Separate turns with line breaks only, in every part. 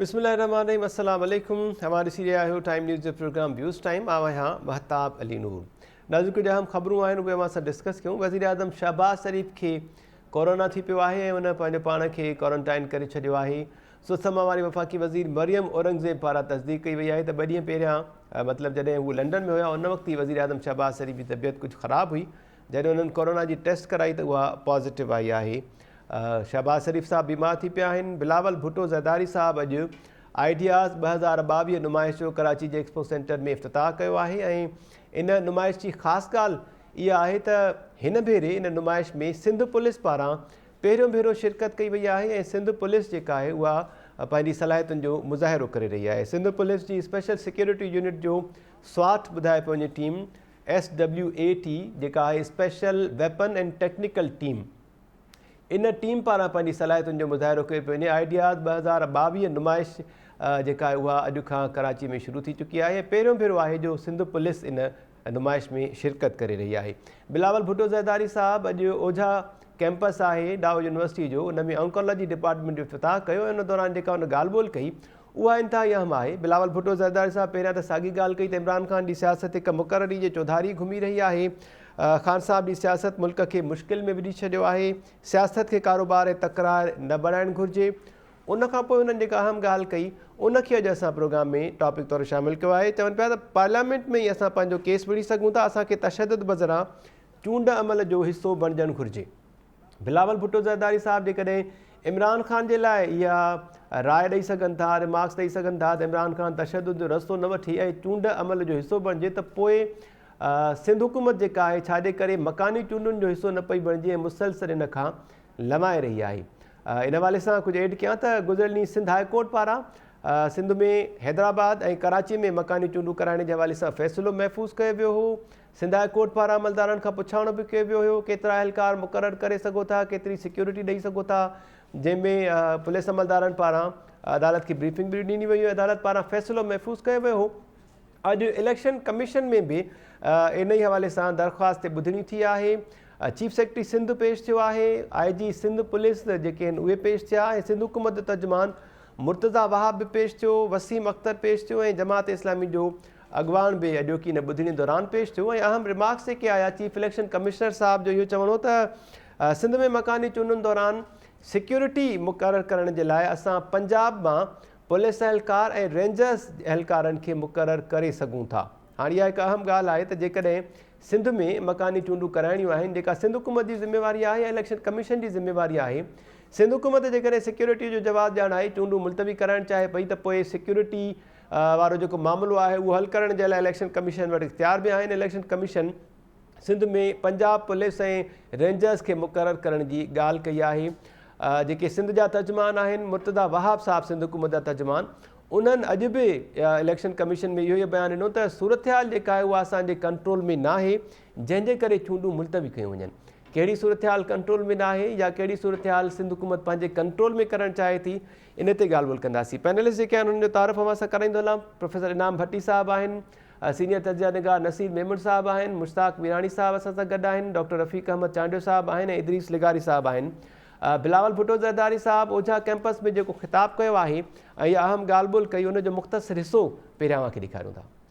بسم الله الرحمن الرحيم السلام عليڪم اوهان ڏسي رهيا آهيو ٽائيم نيوز جو پروگرام ويوز ٽائيم آء آهيان مهتاب علي نور نازڪ جو اهم خبرون آهن اهي اوهان سان ڊسڪس ڪيون وزير اعظم شهباز شريف کي ڪورونا ٿي پيو آهي ۽ ان پنهنجو پاڻ کي ڪورنٽائن ڪري ڇڏيو آهي سوسما واري وفاقي وزير مريم اورنگزيب پاران تصديق ڪئي وئي آهي ته ٻه ڏينهن پهريان مطلب جڏهن هو لنڊن ۾ هيا ان وقت ئي وزير اعظم شهباز شريف جي طبيعت ڪجهه خراب هئي جڏهن انهن ڪورونا جي ٽيسٽ ڪرائي ته اها پازيٽو آئي آهي شهباز شريف صاحب بيمار ٿي پيا آهن بلاول ڀٽو زرداري صاحب اڄ آئيڊياز ٻه هزار ٻاويهه نمائش جو ڪراچي جي ايڪسپو سينٽر ۾ افتتاح ڪيو آهي ۽ ان نمائش جي خاص ڳالهه اها آهي ته هن ڀيري ان نمائش ۾ سنڌ پوليس پاران پهريون ڀيرو شرڪت ڪئي وئي آهي ۽ سنڌ پوليس جيڪا آهي اها پنهنجي صلاحيتن جو مظاهرو ڪري رهي آهي سنڌ پوليس جي اسپيشل سيڪيورٽي يونٽ جو سواٽ ٻڌائي پيو وڃي team S W A T جيڪا آهي special weapon and technical team ان ٽيم پاران پنهنجي صلاحيتن جو مظاهرو ڪيو پيو وڃي آئيڊياز ٻه هزار ٻاويهه نمائش جيڪا آهي اها اڄ کان ڪراچي ۾ شروع ٿي چڪي آهي پهريون ڀيرو آهي جو سنڌ پوليس ان نمائش ۾ شرڪت ڪري رهي آهي بلاول ڀٽو زرداري صاحب اڄ اوجها ڪيمپس آهي ڊاء يونيورسٽي جو ان ۾ آنڪالاجي ڊپارٽمنٽ جو افتتاح ڪيو ان دوران جيڪا ان ڳالهه ٻولهه ڪئي اها انتهائي اهم آهي. بلاول ڀٽو زرداري صاحب پهريان ته ساڳي ڳالهه ڪئي ته عمران خان جي سياست هڪ مقرري جي چوڌاري گهمي رهي آهي. خان صاحب جي سياست ملڪ کي مشڪل ۾ وجهي ڇڏيو آهي. سياست کي ڪاروبار ۽ تڪرار نه بڻائڻ گهرجي. ان کان پوء هنن جيڪا اهم ڳالهه ڪئي ان کي اڄ اسان پروگرام ۾ ٽاپڪ طور شامل ڪيو آهي. چون پيا ته پارليامينٽ ۾ ئي اسان پنهنجو ڪيس وڙهي سگهون ٿا. اسان کي تشدد بذران چونڊ عمل جو حصو بڻجڻ گهرجي. بلاول ڀٽو زرداري صاحب جيڪڏهن عمران خان جي لاء اها راء ڏئي سگهن ٿا ريمارڪس ڏئي سگهن ٿا ته عمران خان تشدد جو رستو نه وٺي ۽ چونڊ عمل جو حصو بڻجي ته پوء سنڌ حڪومت جيڪا آهي ڇاجي ڪري مڪاني چونڊن جو حصو نه پئي بڻجي ۽ مسلسل ان کان لوائي رهي آهي ان حوالي سان ڪجهه ايڊ ڪيان ته گذريل ڏينهن سنڌ هاء ڪورٽ پاران سنڌ ۾ حيدرآباد ۽ ڪراچي ۾ مڪاني چونڊون ڪرائڻ جي حوالي سان فيصلو محفوظ ڪيو ويو هو سنڌ هاء ڪورٽ پاران عملدارن کان پڇاڻو به ڪيو ويو هيو ڪيترا اهلڪار مقرر ڪري سگهو ٿا ڪيتري سيڪيورٽي ڏئي سگهو ٿا جنهن ۾ پوليس عملدارن پاران عدالت کي بريفنگ به ڏني وئي عدالت پاران فيصلو محفوظ ڪيو ويو هو اڄ اليڪشن ڪميشن ۾ به انهي حوالي سان درخواست تي ٻڌڻي ٿي آهي چيف سيڪريٽري سنڌ پيش ٿيو آهي آء جي سنڌ پوليس جيڪي آهن اهي پيش ٿيا ۽ سنڌ حڪومت جو ترجمان مرتضا وهاب به پيش ٿيو وسيم اختر پيش ٿيو ۽ جماعت اسلامي جو اڳواڻ به اڄوڪي ان ٻڌڻي دوران پيش ٿيو ۽ اهم ريمارڪس جيڪي آيا چيف اليڪشن ڪمشنر صاحب جو اهو چوڻ هو ته سنڌ ۾ مڪاني چونڊن دوران سيڪيورٽي مقرر ڪرڻ جي لاء اسان پنجاب مان پوليس اهلڪار ۽ رينجرز اهلڪارن کي مقرر ڪري سگهون ٿا هاڻ اها هڪ اهم ڳالهه آهي ته جيڪڏهن سنڌ ۾ مڪاني چونڊون ڪرائڻيون آهن جيڪا سنڌ حڪومت جي ذميواري آهي يا اليڪشن ڪميشن جي ذميواري آهي سنڌ حڪومت جيڪڏهن سيڪيورٽي جو جواز ڄاڻائي چونڊون ملتوي ڪرائڻ چاهي پئي ته پوء سيڪيورٽي وارو جيڪو معاملو آهي اهو حل ڪرڻ جي لاء اليڪشن ڪميشن وٽ اختيار به آهن، election commission Sindh ۾ Punjab police ۽ rangers کي مقرر ڪرڻ جي ڳالهه ڪئي آهي جيڪي سنڌ جا ترجمان آهن مرتضيٰ وهاب صاحب سنڌ حڪومت جا ترجمان انهن اڄ به اليڪشن ڪميشن ۾ اهو ئي بيان ڏنو ته صورتحال جيڪا آهي اها اسان جي ڪنٽرول ۾ ناهي جنهن جي ڪري چونڊون ملتوي ڪيون وڃن ڪهڙي صورتحال ڪنٽرول ۾ ناهي يا ڪهڙي صورتحال سنڌ حڪومت پنهنجي ڪنٽرول ۾ ڪرڻ چاهي ٿي ان تي ڳالهه ٻولهه ڪنداسين. پينلسٽ جيڪي آهن انهن جو تعارف اوهان سان ڪرائيندو هلان. پروفيسر انعام ڀٽي صاحب آهن، سينيئر تجزيه نگار نصير ميمڻ صاحب آهن، مشتاق ميراڻي صاحب اسان سان گڏ آهن، ڊاڪٽر رفيق احمد چانڊيو صاحب آهن ۽ ادريس لغاري صاحب آهن. بلاول ڀٽو زرداري صاحب اوجها ڪئمپس ۾ جيڪو خطاب ڪيو آهي ۽ يا اهم ڳالهه ٻولهه ڪئي ان جو مختصر حصو پهريان اوهان کي ڏيکاريون ٿا.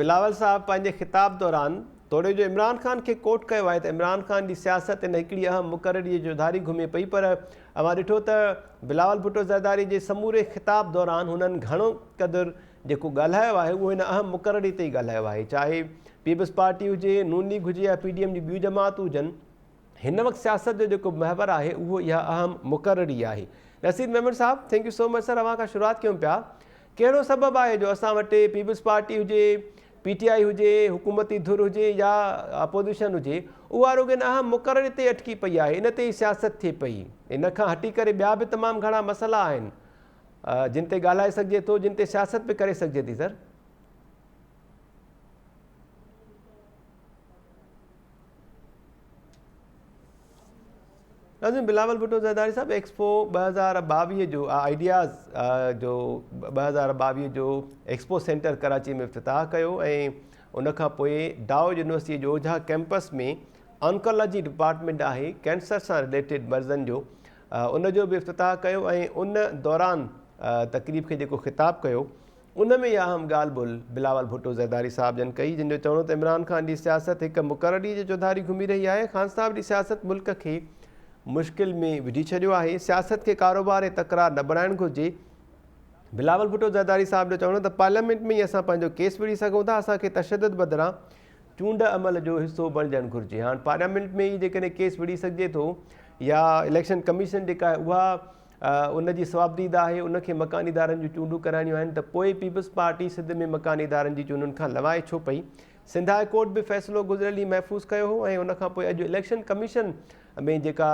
بلاول صاحب
پنهنجي خطاب دوران توڙي جو عمران خان کي ڪوٽ ڪيو آهي ته عمران خان جي سياست هن هڪڙي اهم مقرري جي چوڌاري گهمي پئي پر اوهان ڏٺو ته بلاول ڀٽو زرداري جي سموري خطاب دوران هنن گهڻو قدر جيڪو ڳالهايو آهي اهو هن اهم مقرري تي ئي ڳالهايو آهي چاهي پيپلز پارٽي هجي نون ليگ هجي يا پي ڊي ايم جون ٻيون جماعتون هجن هن وقت سياست جو جيڪو محور آهي اهو اها اهم مقرري آهي نصير ميمڻ صاحب thank you so much sir اوهان کان شروعات ڪيون پيا ڪهڙو سبب آهي جو اسان وٽ پيپلز پارٽي هجي، پي ٽي آء هجي، حڪومتي ڌر هجي يا اپوزيشن هجي اها رڳو ان اهم مقرري تي ئي اٽڪي پئي آهي، ان تي ئي سياست ٿئي پئي. ان کان هٽي ڪري ٻيا به تمام گهڻا مسئلا آهن جن تي ڳالهائي سگهجي ٿو، جن تي سياست به ڪري سگهجي ٿي سر. ناظرين بلاول ڀٽو زرداري صاحب ايڪسپو ٻه هزار ٻاويهه جو آئيڊياز جو ٻه هزار ٻاويهه جو ايڪسپو سينٽر ڪراچي ۾ افتتاح ڪيو ۽ ان کان پوء ڊاو يونيورسٽي جو اوجها ڪيمپس ۾ آنڪالاجي ڊپارٽمنٽ آهي ڪينسر سان رليٽيڊ مرضن جو ان جو به افتتاح ڪيو ۽ ان دوران تقريب کي جيڪو خطاب ڪيو ان ۾ اها اهم ڳالهه بل بلاول ڀٽو زرداري صاحب جن ڪئي، جن جو چوڻ هو ته عمران خان جي سياست هڪ مقرر ڏينهن جي چوڌاري گهمي رهي آهي، خان صاحب جي سياست ملڪ کي مشڪل ۾ وجهي ڇڏيو آهي، سياست کي ڪاروبار ۽ تڪرار نه بڻائڻ گهرجي، بلاول ڀٽو زرداري صاحب جو چوڻ هو ته پارليامينٽ ۾ ئي اسان پنهنجو ڪيس وڙهي سگهون ٿا، اسان کي تشدد بدران چونڊ عمل جو حصو بڻجڻ گهرجي، هاڻ پارليامينٽ ۾ ئي جيڪڏهن ڪيس وڙهي سگهجي ٿو يا اليڪشن ڪميشن جيڪا آهي اها ان جي صوابديد آهي ان کي مڪاني ادارن جون چونڊون ڪرائڻيون آهن ته پوء پيپلز پارٽي سنڌ ۾ مڪاني ادارن جي چونڊن کان لنوائي ڇو پئي؟ سنڌ هاء ڪورٽ به فيصلو گذريل ڏينهن محفوظ ڪيو هو ۽ ان کان پوء اڄ اليڪشن ڪميشن ۾ جيڪا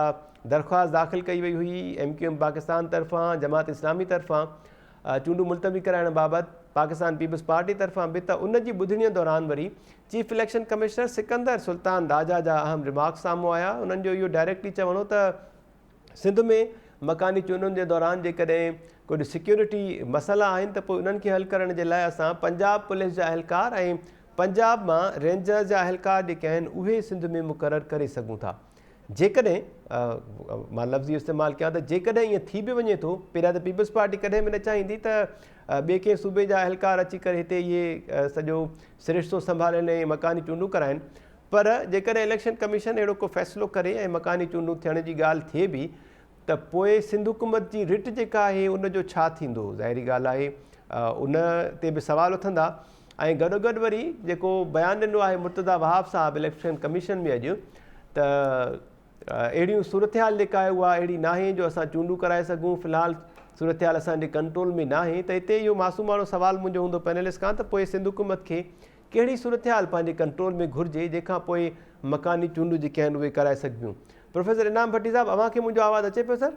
درخواست داخل ڪئي وئي هئي ايم ڪيو ايم پاڪستان طرفان جماعت اسلامي طرفان چونڊون ملتوي ڪرائڻ بابت پاڪستان پيپلز پارٽي طرفان به ته ان جي ٻڌڻي دوران وري chief election commissioner Sikandar Sultan Raja جا اهم ريمارڪس سامهون آيا انهن جو اهو ڊائريڪٽلي چوڻ هو ته سنڌ ۾ مڪاني چونڊن جي دوران جيڪڏهن ڪجهه سيڪيورٽي مسئلا آهن ته پوء انهن کي حل ڪرڻ جي لاء اسان پنجاب پوليس جا اهلڪار ۽ پنجاب مان رينجرز جا اهلڪار جيڪي آهن اهي سنڌ ۾ مقرر ڪري سگهون ٿا جيڪڏهن مان لفظي استعمال ڪيان ته جيڪڏهن ائين ٿي به وڃي ٿو پهريان ته پيپلز پارٽي ڪڏهن به نه چاهيندي ته ٻئي ڪنهن صوبي جا اهلڪار اچي ڪري هتي اهي سڄو سرشتو سنڀالين ۽ مڪاني چونڊون ڪرائن پر جيڪڏهن اليڪشن ڪميشن اهڙو ڪو فيصلو ڪري ۽ مڪاني چونڊون ٿيڻ جي ڳالهه ٿئي به ته پوء سنڌ حڪومت جي رٽ جيڪا آهي ان جو ڇا ٿيندو؟ ظاهري ڳالهه آهي ان تي به سوال اٿندا ۽ گڏوگڏ وري جيڪو بيان ڏنو آهي مرتضيٰ وهاب صاحب اليڪشن ڪميشن ۾ اڄ ته اهڙيون صورتحال جيڪا آهي اها اهڙي ناهي جو اسان چونڊون ڪرائي سگهون في الحال صورتحال اسان جي ڪنٽرول ۾ ناهي ته هتي اهو معصوماڻو سوال منهنجو هوندو پينلسٽ کان ته پوء سنڌ حڪومت کي ڪهڙي صورتحال پنهنجي ڪنٽرول ۾ گهرجي جنهن کان پوء مڪاني چونڊون جيڪي آهن اهي ڪرائي سگهبيون. پروفيسر انعام ڀٽي صاحب اوهان کي منهنجو آواز اچي پيو سر؟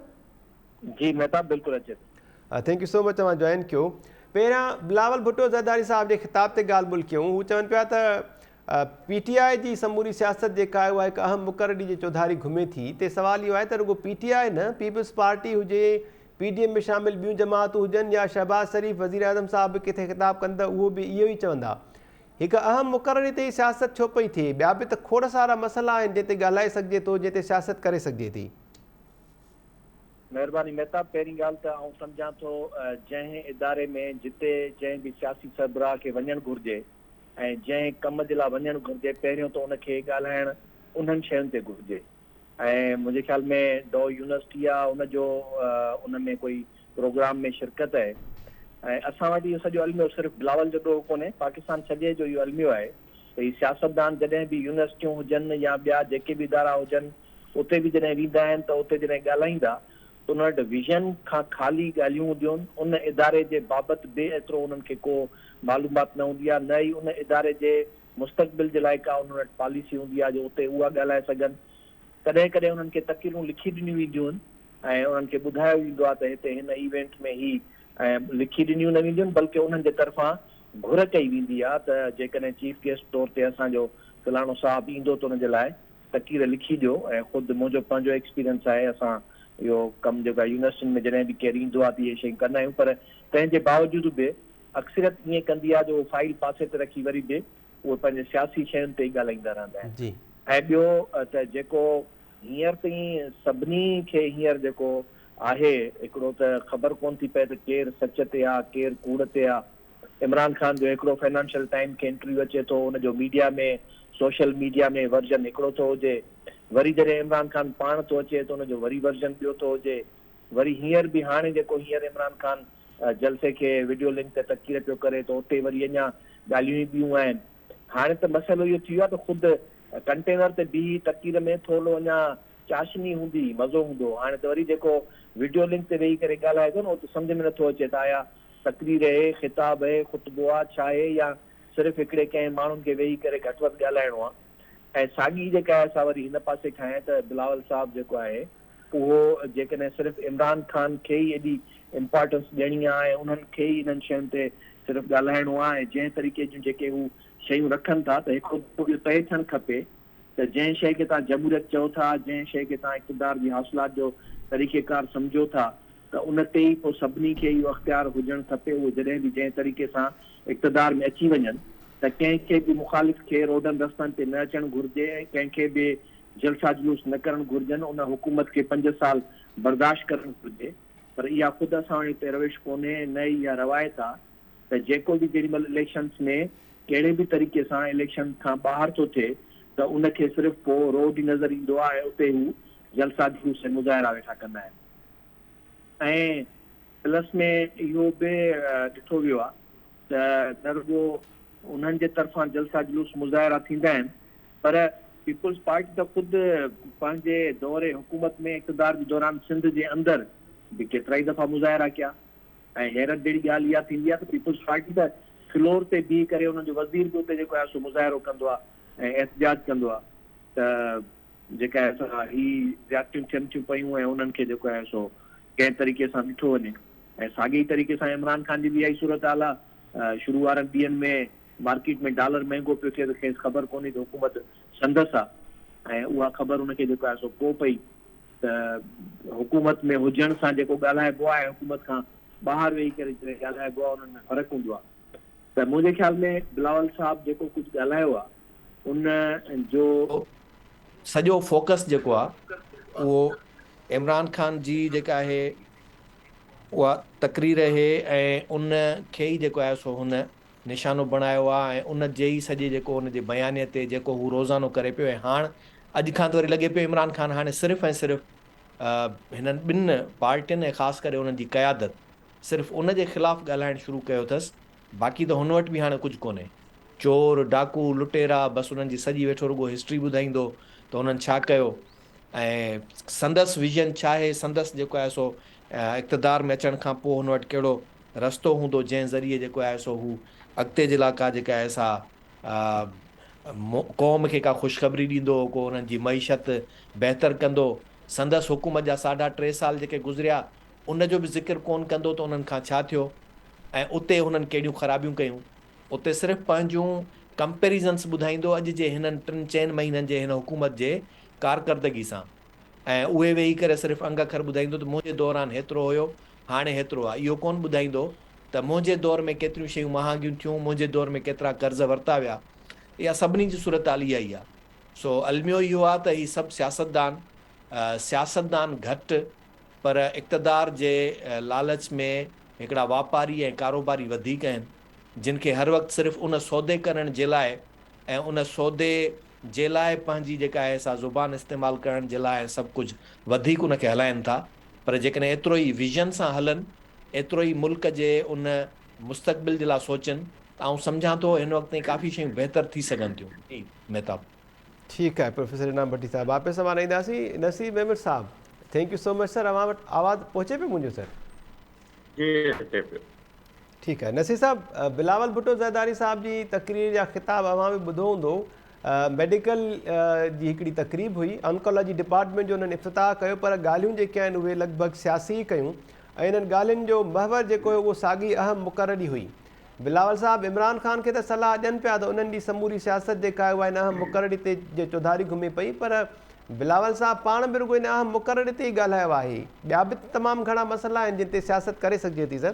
جي مهتاب
بلڪل اچي ٿو. ٿينڪ يو سو مچ
اوهان جوائن ڪيو. پهريان بلاول ڀٽو زرداري صاحب جي خطاب تي ڳالهه ٻولهه ڪيون هو چون پيا ته پي ٽي آء جي سموري سياست جيڪا آهي اها هڪ اهم مقرري جي چوڌاري گهمي ٿي تي سوال اهو آهي ته رڳو پي ٽي آء نه پيپلز پارٽي هجي پي ڊي ايم ۾ شامل ٻيون جماعتون هجن يا شهباز شريف وزيراعظم صاحب به ڪٿي خطاب ڪن ته اهو به اهو ئي چوندا هڪ اهم مقرري تي ئي سياست ڇو پئي ٿئي ٻيا به ته کوڙ سارا مسئلا آهن جنهن تي ڳالهائي سگهجي ٿو جنهن تي سياست ڪري سگهجي ٿي. مهرباني
مهتاب پهرين ڳالهه ته آئون سمجهان ٿو جنهن اداري ۾ جتي جنهن به سياسي سربراهه کي وڃڻ گهرجي ۽ جنهن ڪم جي لا وڃڻ گهرجي پهريون ته ان کي ڳالهائڻ انهن شين تي گهرجي ۽ منهنجي خيال ۾ ڊو يونيورسٽي آ ان جو ان ۾ ڪوئي پروگرام ۾ شرڪت اهي ۽ اسان وٽ اهو سڄو الميو صرف بلاول جو ڏوهه ڪونهي پاڪستان سڄي جو اهو الميو آهي ته هي سياستدان جڏهن به يونيورسٽيون هجن يا ٻيا جيڪي به ادارا هجن اتي به جڏهن ويندا آهن ته اتي جڏهن ڳالهائيندا ته انهن وٽ ويزن کان خالي ڳالهيون هونديون ان اداري جي بابت به ايترو انهن کي ڪو معلومات نه هوندي آ نه ئي ان اداري جي مستقبل جي لاء ڪا انهن وٽ پاليسي هوندي آهي جو اتي اها ڳالهائي سگهن. ڪڏهن ڪڏهن انهن کي تقريرون لکي ڏنيون وينديون آهن ۽ انهن کي ٻڌايو ويندو آهي ته هتي هن ايونٽ ۾ هي ۽ لکي ڏنيون نه وينديون آهن بلڪه انهن جي طرفان گهر ڪئي ويندي آهي ته جيڪڏهن چيف گيسٽ طور تي اسان جو فلاڻو صاحب ايندو ته ان جي لاء تقرير لکي ڏيو ۽ خود منهنجو پنهنجو ايڪسپيرينس آهي اسان اهو ڪم جيڪو آهي يونيورسٽين ۾ جڏهن به ڪير ايندو آهي ته اهي شيون ڪندا آهيون پر تنهن جي باوجود به اڪثريت ائين ڪندي آهي جو هو فائيل پاسي تي رکي وري به اهي پنهنجي سياسي شين تي ئي ڳالهائيندا رهندا آهن ۽ ٻيو ته جيڪو هينئر تائين سڀني کي هينئر جيڪو آهي هڪڙو ته خبر ڪونه ٿي پئي ته ڪير سچ تي آهي ڪير ڪوڙ تي آهي عمران خان جو هڪڙو فنانشل ٽائيم کي انٽرويو اچي ٿو ان جو ميڊيا ۾ سوشل ميڊيا ۾ ورزن هڪڙو ٿو هجي وري جڏهن عمران خان پاڻ ٿو اچي ته ان جو وري ورزن ٻيو ٿو هجي وري هينئر به هاڻي جيڪو هينئر عمران خان جلسي کي وڊيو لنڪ تي تقرير پيو ڪري ته اتي وري اڃا ڳالهيون ئي ٻيون آهن. هاڻي ته مسئلو اهو ٿي ويو آهي ته خود ڪنٽينر تي بيهي تقرير ۾ ٿورڙو اڃا چاشني هوندي، مزو هوندو. هاڻي ته وري جيڪو وڊيو لنڪ تي ويهي ڪري ڳالهائي ٿو نه اهو ته سمجهه ۾ نٿو اچي ته آيا تقرير اهي، خطاب اهي، خطبو آ، ڇا اهي يا صرف هڪڙي ڪنهن ماڻهن کي ويهي ڪري گهٽ وڌ ڳالهائڻو آ. ۽ ساڳي جيڪا آهي سا وري هن پاسي کان آهي ته بلاول صاحب جيڪو آهي، اهو جيڪڏهن صرف عمران خان کي ئي ايڏي امپارٽنس ڏيڻي آ ۽ انهن کي ئي انهن شين تي صرف ڳالهائڻو آ ۽ جنهن طريقي جون جيڪي هو شيون رکن ٿا ته هڪڙو دفعو اهو طئي ٿيڻ کپي ته جنهن شيء کي توهان جمهوريت چئو ٿا جنهن شيء کي توهان اقتدار جي حاصلات جو طريقي ڪار سمجهو ٿا ته ان تي ئي پوء سڀني کي اهو اختيار هجڻ کپي اهو جڏهن به جنهن طريقي سان اقتدار ۾ اچي وڃن ته ڪنهن کي به مخالف کي روڊن رستن تي نه اچڻ گهرجي ۽ ڪنهن کي به جلسا جلوس نه ڪرڻ گهرجن ان حڪومت کي پنج سال برداشت ڪرڻ گهرجي پر اها خود اسان وٽ هڪ روش ڪونهي نه ئي اها روايت آ ته جيڪو به جيڏي مهل اليڪشنس ۾ ڪهڙي به طريقي سان اليڪشنس کان ٻاهر ٿو ٿئي ته ان کي صرف پو روڊ ئي نظر ايندو آ ۽ اتي هو جلسا جلوس ۽ مظاهرا ويٺا ڪندا آهن ۽ پلس ۾ اهو به ڏٺو ويو آ ته نه رڳو انهن جي طرفان جلسا جلوس مظاهرا ٿيندا آهن پر پيپلز پارٽي ته خود پنهنجي دور حڪومت ۾ اقتدار جي دوران سنڌ جي اندر به ڪيترائي دفعا مظاهرا ڪيا ۽ حيرت جهڙي ڳالهه اها ٿيندي آهي ته پيپلز پارٽي ته فلور تي بيهي ڪري انهن جو وزير به اتي جيڪو آهي سو مظاهرو ڪندو آهي ۽ احتجاج ڪندو آهي ته جيڪا آهي سا هي زيادتيون ٿين ٿيون پيون ۽ انهن کي جيڪو آهي سو ڪنهن طريقي سان ڏٺو وڃي ۽ ساڳي ئي طريقي سان عمران خان جي به اها ئي صورتحال آهي شروع وارن ڏينهن ۾ مارڪيٽ ۾ ڊالر مهنگو پيو ٿئي ته کيس خبر ڪونهي ته حڪومت سندس آ ۽ اها خبر ان کي جيڪو آهي سو ڪو پئي ته حڪومت ۾ هجڻ سان جيڪو ڳالهائبو آهي حڪومت کان ٻاهر ويهي ڪري جيڪو ڳالهائبو آهي انهن ۾ فرق هوندو آهي ته منهنجي خيال ۾ بلاول صاحب جيڪو ڪجهه ڳالهايو آهي ان جو سڄو
فوڪس جيڪو آهي اهو عمران خان جي جيڪا آهي اها تقرير اهي ۽ ان کي ئي جيڪو آهي سو هن نشانو بڻايو آ ۽ ان جي ئي سڄي جيڪو ان جي بيانيي تي جيڪو هو روزانو ڪري پيو ۽ هاڻ اڄ کان ته وري لڳي پيو عمران خان هاڻي صرف ۽ صرف هنن ٻن پارٽين ۽ خاص ڪري انهن جي قيادت صرف ان جي خلاف ڳالهائڻ شروع ڪيو اٿس باقي ته هن وٽ به هاڻي ڪجهه ڪونهي چور ڊاڪو لٽيرا بس انهن جي سڄي ويٺو رڳو هسٽري ٻڌائيندو ته هنن ڇا ڪيو ۽ سندس ويزن ڇا آهي سندس جيڪو آهي سو اقتدار ۾ اچڻ کان پوء هن وٽ ڪهڙو رستو هوندو جنهن ذريعي جيڪو آهي سو هو اڳتي جي لاء ڪا جيڪا آهي سا قوم کي ڪا خوشخبري ڏيندو ڪو انهن جي معيشت بهتر ڪندو سندس حڪومت جا ساڍا ٽي سال جيڪي گذريا ان جو به ذڪر ڪون ڪندو ته انهن کان ڇا ٿيو ۽ اتي هنن ڪهڙيون خرابيون ڪيون اتي صرف پنهنجون ڪمپيريزنس ٻڌائيندو اڄ جي هنن ٽن چئن مهينن جي هن حڪومت جي ڪارڪردگي سان. ۽ اهي ويهي ڪري صرف انگ اکر ٻڌائيندو ته منهنجي دوران هيترو هيو، هاڻي هيترو آهي. اهو ڪونه ٻڌائيندو ته منهنجي دور ۾ ڪيتريون شيون مهانگيون ٿيون، منهنجي دور ۾ ڪيترا قرض ورتا ويا. اها سڀني جي صورتحال اها ئي آهي. سو الميو اهو آهي ته هي سڀ سياستدان، سياستدان گهٽ پر اقتدار جي لالچ ۾ هڪڙا واپاري ۽ ڪاروباري وڌيڪ آهن، جن کي هر وقت صرف ان سودي ڪرڻ جي لاء ۽ ان سودي جي لاء پنهنجي جيڪا آهي سا زبان استعمال ڪرڻ جي لاء سڀ ڪجهه وڌيڪ ان کي هلائين ٿا پر جيڪڏهن ايترو ئي ويزن سان هلن ايترو ئي ملڪ جي ان مستقبل جي لاء سوچن ته آئون سمجهان ٿو هن وقت تائين ڪافي شيون بهتر ٿي سگهن ٿيون جي مهتاب.
ٺيڪ آهي
پروفيسر
انعام ڀٽي صاحب واپس اوهان ڏي اينداسين
نصير
ميمڻ صاحب thank you so much sir اوهان وٽ آواز پهچي پيو منهنجو سر. جي
اچي پيو. ٺيڪ آهي
نصير صاحب بلاول ڀٽو زرداري صاحب جي تقرير يا خطاب اوهان به ٻڌو هوندو ميڊيڪل جي هڪڙي تقريب هئي آنڪالاجي ڊپارٽمنٽ جو انهن افتتاح ڪيو پر ڳالهيون جيڪي آهن اهي لڳ ڀڳ سياسي ئي ڪيون ۽ انهن ڳالهين جو محور جيڪو هيو اهو ساڳي اهم مقرر ئي هئي بلاول صاحب عمران خان کي ته صلاح ڏين پيا ته انهن جي سموري سياست جيڪا آهي اها ان اهم مقرر تي جي چوڌاري گهمي پئي پر بلاول صاحب پاڻ به رڳو ان اهم مقرري تي ئي ڳالهايو آهي. ٻيا به ته تمام گهڻا مسئلا آهن جن تي سياست ڪري سگهجي ٿي سر.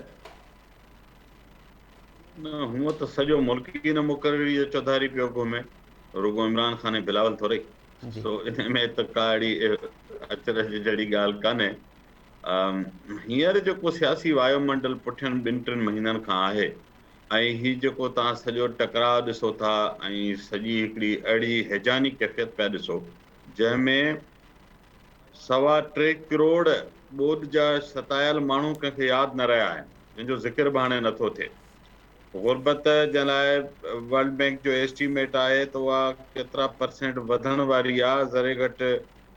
نه هونء ته سڄو ملڪ ئي ان مقرري جو چوڌاري پيو گهمي. رڳو عمران خان ۽ بلاول ٿورئي. سو ان
۾ ته
ڪا اهڙي اچرج جهڙي ڳالهه ڪانهي. هينئر جيڪو سياسي وايو منڊل پٺين ٻن ٽن مهينن کان آهي ۽ هي جيڪو توهان سڄو ٽڪراء ڏسو ٿا ۽ سڄي هڪڙي اهڙي هيجاني ڪيفيت پيا ڏسو جنهن ۾ سوا ٽي ڪروڙ ٻوڏ جا ستايل ماڻهو ڪنهن کي ياد نه رهيا آهن جن جو ذڪر به هاڻي نه ٿو ٿئي. غربت جنهن لاء ورلڊ بينڪ جو ايسٽيميٽ آهي ته اها ڪيترا پرسينٽ وڌڻ واري آهي ذري گهٽ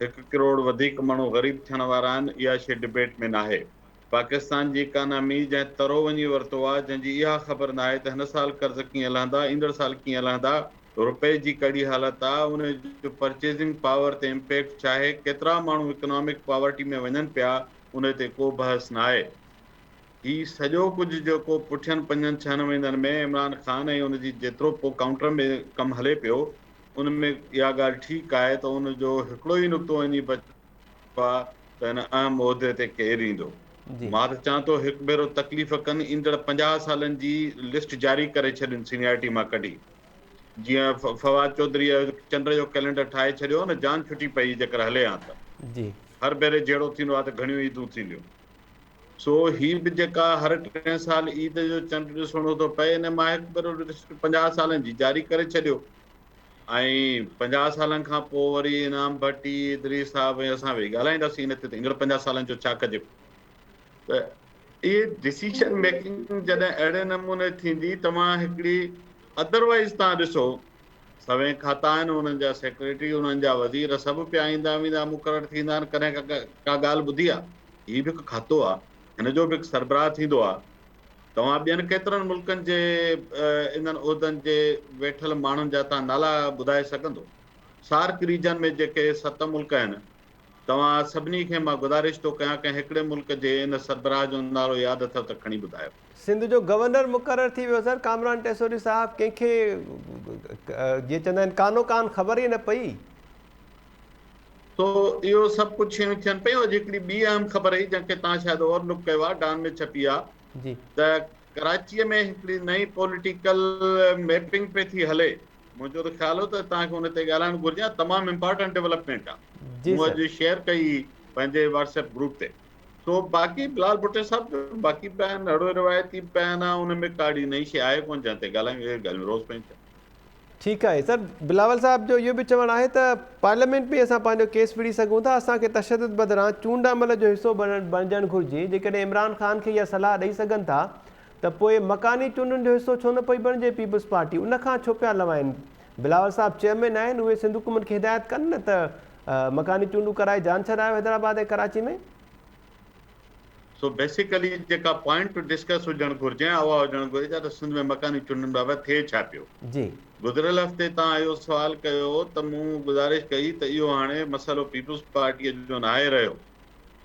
هڪ ڪروڙ وڌيڪ ماڻهو غريب ٿيڻ وارا آهن اها شيء ڊبيٽ ۾ ناهي. پاڪستان جي اڪانامي جنهن ترو وڃي ورتو آ جنهن جي اها خبر ناهي ته هن سال قرض ڪيئن لهندا ايندڙ سال ڪيئن لهندا روپئي جي ڪهڙي حالت آ ان جو پرچيزنگ پاور تي امپيڪٽ ڇاهي ڪيترا ماڻهو اڪنامڪ پاورٽي ۾ وڃن پيا ان تي ڪو بحث ناهي هي سڄو ڪجهه جيڪو پٺين پنجن ڇهن مهينن ۾ عمران خان ۽ ان جي جيترو پو ڪائونٽر ۾ ڪم هلي پيو ان ۾ اها ڳالهه ٺيڪ آهي ته ان جو هڪڙو ئي نقطو وڃي ڀا ته هن اهم عهدي تي ڪير ايندو؟ مان ته چان ٿو هڪ ڀيرو تڪليف ڪن ايندڙ پنجاهه سالن جي لسٽ جاري ڪري ڇڏين سينيارٽي مان ڪڍي جيئن فواد چوڌريء چنڊ جو ڪئلينڊر ٺاهي ڇڏيو نه جان ڇٽي پئي جيڪر هلي هان ته هر ڀيري
جهيڙو
ٿيندو آ ته گهڻيون عيدون ٿينديون سو هي به جيڪا هر ٽئين سال عيد جو چنڊ ڏسڻو ٿو پئي انهي مان هڪ ڀيرو لسٽ پنجاهه سالن جي جاري ڪري ڇڏيو ۽ پنجاهه سالن کان پوء وري انعام ڀٽ ئي ادريس صاحب ۽ اسان ويهي ڳالهائينداسين ان تي ته ايندڙ پنجاهه سالن جو ڇا ڪجي ته اهي ڊسيشن ميڪنگ جڏهن اهڙي نموني ٿيندي توهان هڪڙي ادروائيز تان ڏسو سوين کاتا آهن انهن جا سيڪريٽري انهن جا وزير سڀ پيا ايندا ويندا مقرر ٿيندا آهن ڪڏهن ڪا ڳالهه ٻڌي آهي هي به هڪ کاتو آهي هن جو به هڪ سربراهه ٿيندو آهي توهان ٻين ڪيترن ملڪن جي انهن عهدن جي ويٺل ماڻهن جا ٿا نالا ٻڌائي سگهندو؟ سارڪ ريجن ۾ جيڪي ست ملڪ آهن، توهان سڀني کي مان گذارش ٿو ڪيان ڪنهن هڪڙي ملڪ جي ان سربراهه جو نالو ياد اٿو ته کڻي ٻڌايو. سنڌ جو گورنر
مقرر ٿي ويو سر ڪامران ٽيسوري صاحب ڪنهن کي جيئن چوندا آهن ڪانو ڪان خبر ئي نه پئي.
سو اهو سڀ ڪجهه شيون ٿين پيون اڄ هڪڙي ٻي اهم خبر هئي جنهن کي توهان شايد اور لڪ ڪيو آهي ڊان ۾ ڇپي آهي ته
ڪراچي
۾ هڪڙي نئين پوليٽيڪل ميپنگ پئي ٿي هلي منهنجو ته خيال هو ته توهان کي ان تي ڳالهائڻ گهرجان تمام امپارٽنٽ ڊيولپمينٽ آهي مون اڄ شيئر
ڪئي
پنهنجي واٽس ايپ گروپ تي سو باقي بلال ڀٽي صاحب جو باقي بيان اهڙو روايتي بيان آهي ان ۾ ڪاڙي نئين شيء آهي ڪون جنهن تي ڳالهايون اهي ڳالهيون روز پيون ٿين ٺيڪ آهي
سر، بلاول صاحب جو اهو به چوڻ آهي ته پارليامينٽ ۾ اسان پنهنجو ڪيس وڙهي سگهون ٿا، اسان کي تشدد بدران چونڊ عمل جو حصو بڻجڻ گهرجي، جيڪڏهن عمران خان کي اها صلاح ڏئي سگهن ٿا ته پوء مڪاني چونڊن جو حصو ڇو نه پئي بڻجي پيپلز پارٽي ان کان ڇو پيا لوائن بلاول صاحب چيئرمين آهن اهي سنڌ حڪومت کي هدايت ڪن نه ته مڪاني چونڊون ڪرائي جان ڇڏايو حيدرآباد ۽ ڪراچي ۾.
سو بيسيڪلي جيڪا پوائنٽ ٽو ڊسڪس هجڻ گهرجي ۽ اها هجڻ گهرجي ته ته سنڌ ۾ مڪاني چونڊن بابت ٿئي ڇا پيو؟ جي. گذريل
هفتي
توهان اهو سوال ڪيو هو ته مون گذارش ڪئي ته اهو هاڻي مسئلو پيپلز پارٽيء جو ناهي رهيو.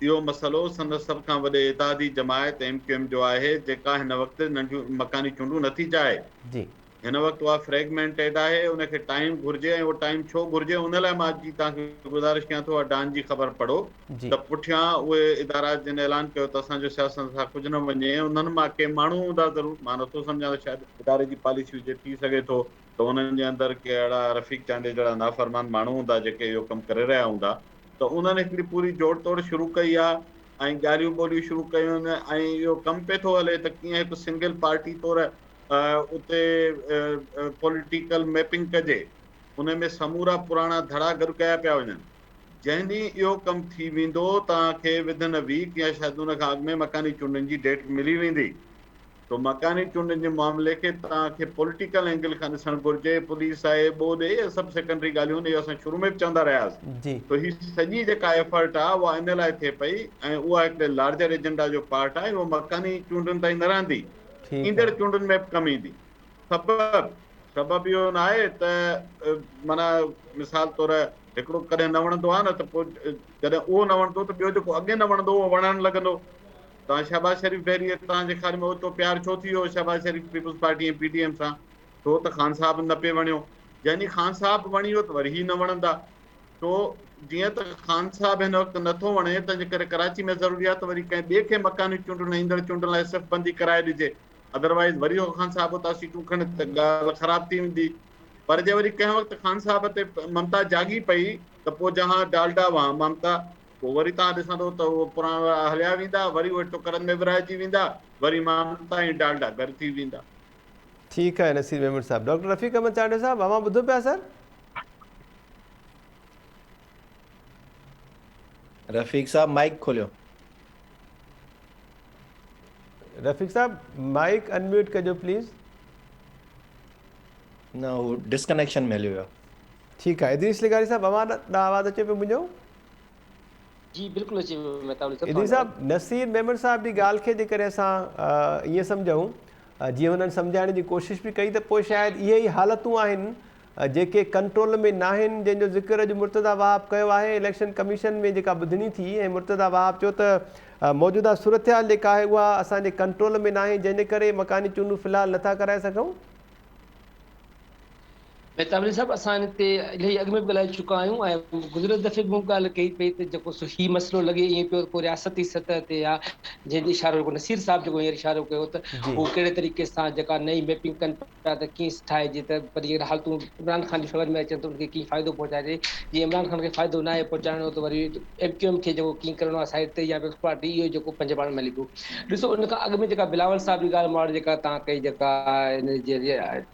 اهو مسئلو سندس سڀ کان وڏي اتحادي جماعت ايم ڪيو ايم جو آهي جيڪا هن وقت ننڍيون مڪاني چونڊون نٿي چاهي. جي. هن
وقت اها
فريگمينٽيڊ آهي ان کي ٽائيم گهرجي ۽ اهو ٽائيم ڇو گهرجي ان لاء مان اڄ جي توهان کي گذارش ڪيان ٿو اها ڊان جي خبر پڙهو ته پٺيان
اهي
ادارا جن اعلان ڪيو ته اسان جو سياست سان ڪجهه نه وڃي ۽ انهن مان ڪي ماڻهو هوندا ضرور مان نه ٿو سمجهان ته شايد اداري جي پاليسي هجي ٿي سگهي ٿو ته انهن جي اندر ڪي اهڙا رفيق چانڊيو جهڙا نافرمان ماڻهو هوندا جيڪي اهو ڪم ڪري رهيا هوندا ته انهن هڪڙي پوري جوڙ توڙ شروع ڪئي آهي ۽ ڳالهيون ٻولهيون شروع ڪيون ۽ اهو ڪم پئي ٿو هلي ته ڪيئن هڪ سنگل پارٽي طور اتي پوليٽيڪل ميپنگ ڪجي، ان ۾ سمورا پراڻا ڌڙا گڏ ڪيا پيا وڃن. جنهن ڏينهن اهو ڪم ٿي ويندو، توهان کي ودن اي ويڪ يا شايد ان کان اڳ ۾ مڪاني چونڊن جي ڊيٽ ملي ويندي. سو مڪاني چونڊن جي معاملي کي توهان کي پوليٽيڪل اينگل کان ڏسڻ گهرجي. پوليس آهي، ٻوڏ، اهي سڀ سيڪنڊري ڳالهيون آهن، اهو اسان شروع ۾ به چوندا رهيا هئاسين. سو هي سڄي جيڪا ايفرٽ آهي اها ان لاء ٿئي پئي ۽ اها هڪڙي لارجر ايجنڊا جو پارٽ آهي، اهو مڪاني چونڊن تائين نه رهندي. ٺيڪ آ. ايندڙ چونڊن ۾ به ڪم ايندي. سبب، سبب اهو ناهي ته معنيٰ مثال طور هڪڙو ڪڏهن نه وڻندو آهي نه ته پوء جڏهن اهو نه وڻندو ته ٻيو جيڪو اڳي نه وڻندو اهو وڻڻ لڳندو. توهان شهباز شريف ڀيري توهان جي خيال ۾ اوچتو پيار ڇو ٿي ويو شهباز شريف پيپلز پارٽي ۽ پي ڊي ايم سان؟ ڇو ته خان صاحب نه پئي وڻيو. جنهن ڏينهن خان صاحب وڻي ويو ته وري هي نه وڻندا. سو جيئن ته خان صاحب هن وقت نه ٿو وڻي، تنهنجي ڪري ڪراچي ۾ ضروري آهي ته وري ڪنهن ٻئي کي مڪاني چونڊن ۽ ايندڙ چونڊن لاء صف بندي ڪرائي ڏجي. ادروائيز وري اهو خان صاحب اتان سيٽون کڻي ته ڳالهه خراب ٿي ويندي. پر جي وري ڪنهن وقت خان صاحب تي ممتا جاڳي پئي ته پوء جهان ڊالڊا وهان ممتا. پوء وري توهان ڏسندو ته اهي پراڻا راء هليا ويندا، وري اهي ٽڪرن ۾ ورهائجي ويندا، وري ممتا ۽ ڊالڊا گڏ ٿي ويندا. ٺيڪ آهي
نصير ميمڻ صاحب. ڊاڪٽر رفيق احمد چانڊيو صاحب، اوهان ٻڌو پيا سر؟
رفيق صاحب مائيڪ کوليو.
رفيق صاحب مائيڪ انميوٽ ڪجو پليز.
نه هو ڊسڪنيڪشن ۾ هليو ويو. ٺيڪ آهي ادريس
لغاري صاحب اوهان ڏانهن آواز اچي پيو منهنجو.
جي بلڪل اچي پيو مهتاب علي صاحب. ادريس صاحب نصير
ميمڻ صاحب جي ڳالهه کي جي ڪڏهن اسان ائين سمجهون جيئن هنن سمجهائڻ جي ڪوشش به ڪئي ته پوء شايد اهي ئي حالتون آهن جيڪي ڪنٽرول ۾ ناهن جنهن جو ذڪر اڄ مرتضيٰ وهاب ڪيو آهي اليڪشن ڪميشن ۾ جيڪا ٻڌڻي ٿي ۽ مرتضيٰ وهاب چيو ته موجوده صورتحال جيڪا آهي اها اسان جي ڪنٽرول ۾ ناهي جنهن جي ڪري مڪاني چونڊون في الحال نٿا ڪرائي سگهون.
مير تابلي صاحب اسان هتي الهي اڳ ۾ به ڳالهائي چڪا آهيون ۽ گذريل دفعي به مون ڳالهه ڪئي پئي ته جيڪو سو هي مسئلو لڳي ائين پيو ڪو رياستي سطح تي يا جنهن جي اشارو جيڪو نصير صاحب جيڪو هينئر اشارو ڪيو ته هو ڪهڙي طريقي سان جيڪا نئين ميپنگ ڪن ڇا ته ڪيئن ٺاهي جي ته پر جيڪڏهن حالتون عمران خان جي فيور ۾ اچن ته ان کي ڪيئن فائدو پهچائجي جي عمران خان کي فائدو ناهي پهچائڻو ته وري ايم ڪيو ايم کي جيڪو ڪيئن ڪرڻو آهي سائيڊ تي يا پيپلز پارٽي اهو جيڪو پنهنجي پاڻ ۾ هلي پيو ڏسو ان کان اڳ ۾ جيڪا بلاول صاحب جي ڳالهه ماڙ جيڪا تان ڪئي جيڪا ان جي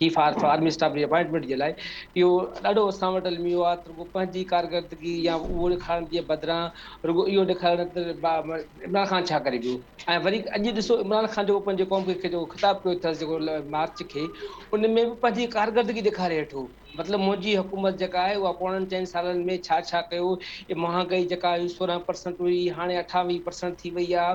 چيف آف آرمي اسٽاف جي اپائنٽمينٽ جي لاء اهو ڏاڍو اسان وٽ الميو آ رڳو پنهنجي ڪارڪردگي يا اهو ڏيکارڻ جي بدران رڳو اهو ڏيکاريو نه ته عمران خان ڇا ڪري پيو ۽ وري اڄ ڏسو عمران خان جو پنهنجي قوم کي جيڪو خطاب ڪيو اٿس جيڪو مارچ کي ان ۾ به پنهنجي ڪارڪردگي ڏيکاري ويٺو مطلب منهنجي حڪومت جيڪا آهي اها پوڻن چئن سالن ۾ ڇا ڇا ڪيو هي مهانگائي جيڪا هئي سورهن پرسنٽ هئي هاڻي اٺاويهه پرسنٽ ٿي وئي آ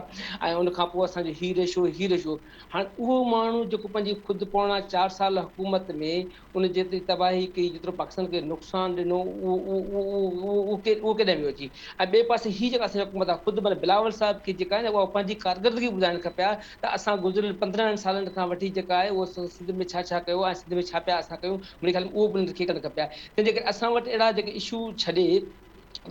۽ ان کان پوء اسان جو هي ريشو هي ريشو هاڻ اهو ماڻهو جيڪو پنهنجي خود پوڻا چار سال حڪومت ۾ ان جيتري تباهي ڪئي، جيترو پاڪستان کي نقصان ڏنو، اهو ڪيڏانهن ويو اچي؟ ۽ ٻئي پاسي هي جيڪا اسان جي حڪومت آ، خود مطلب بلاول صاحب کي جيڪا آهي نه اها پنهنجي ڪارڪردگي ٻڌائڻ کپي ها ته اسان گذريل پندرهن سالن کان وٺي جيڪا آهي اهو سنڌ ۾ ڇا ڇا ڪيو ۽ سنڌ ۾ ڇا پيا اسان ڪيون، منهنجي خيال ۾ اهو پڻ لکي ڪڍڻ کپي ها. تنهنجي ڪري اسان وٽ اهڙا جيڪي اشو ڇڏي،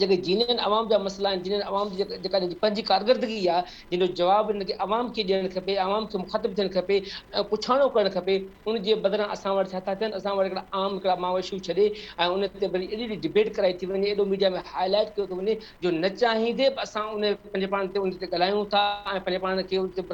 جيڪي جينين عوام جا مسئلا آهن، جينين عوام جي جيڪا هن جي پنهنجي ڪارڪردگي آ، جنهن جو جواب هن کي عوام کي ڏيڻ کپي، عوام کي مخاطب ٿيڻ کپي ۽ پڇاڻو ڪرڻ کپي، ان جي بدران اسان وٽ ڇا ٿا ٿين، اسان وٽ هڪڙا عام هڪڙا ماء اشو ڇڏي ۽ ان تي وري ايڏي ايڏي ڊبيٽ ڪرائي ٿي وڃي، ايڏو ميڊيا ۾ هاء لائيٽ ڪيو ٿو وڃي جو نه چاهيندي به اسان ان پنهنجي پاڻ تي ان تي ڳالهايون ٿا ۽ پنهنجي پاڻ کي ان تي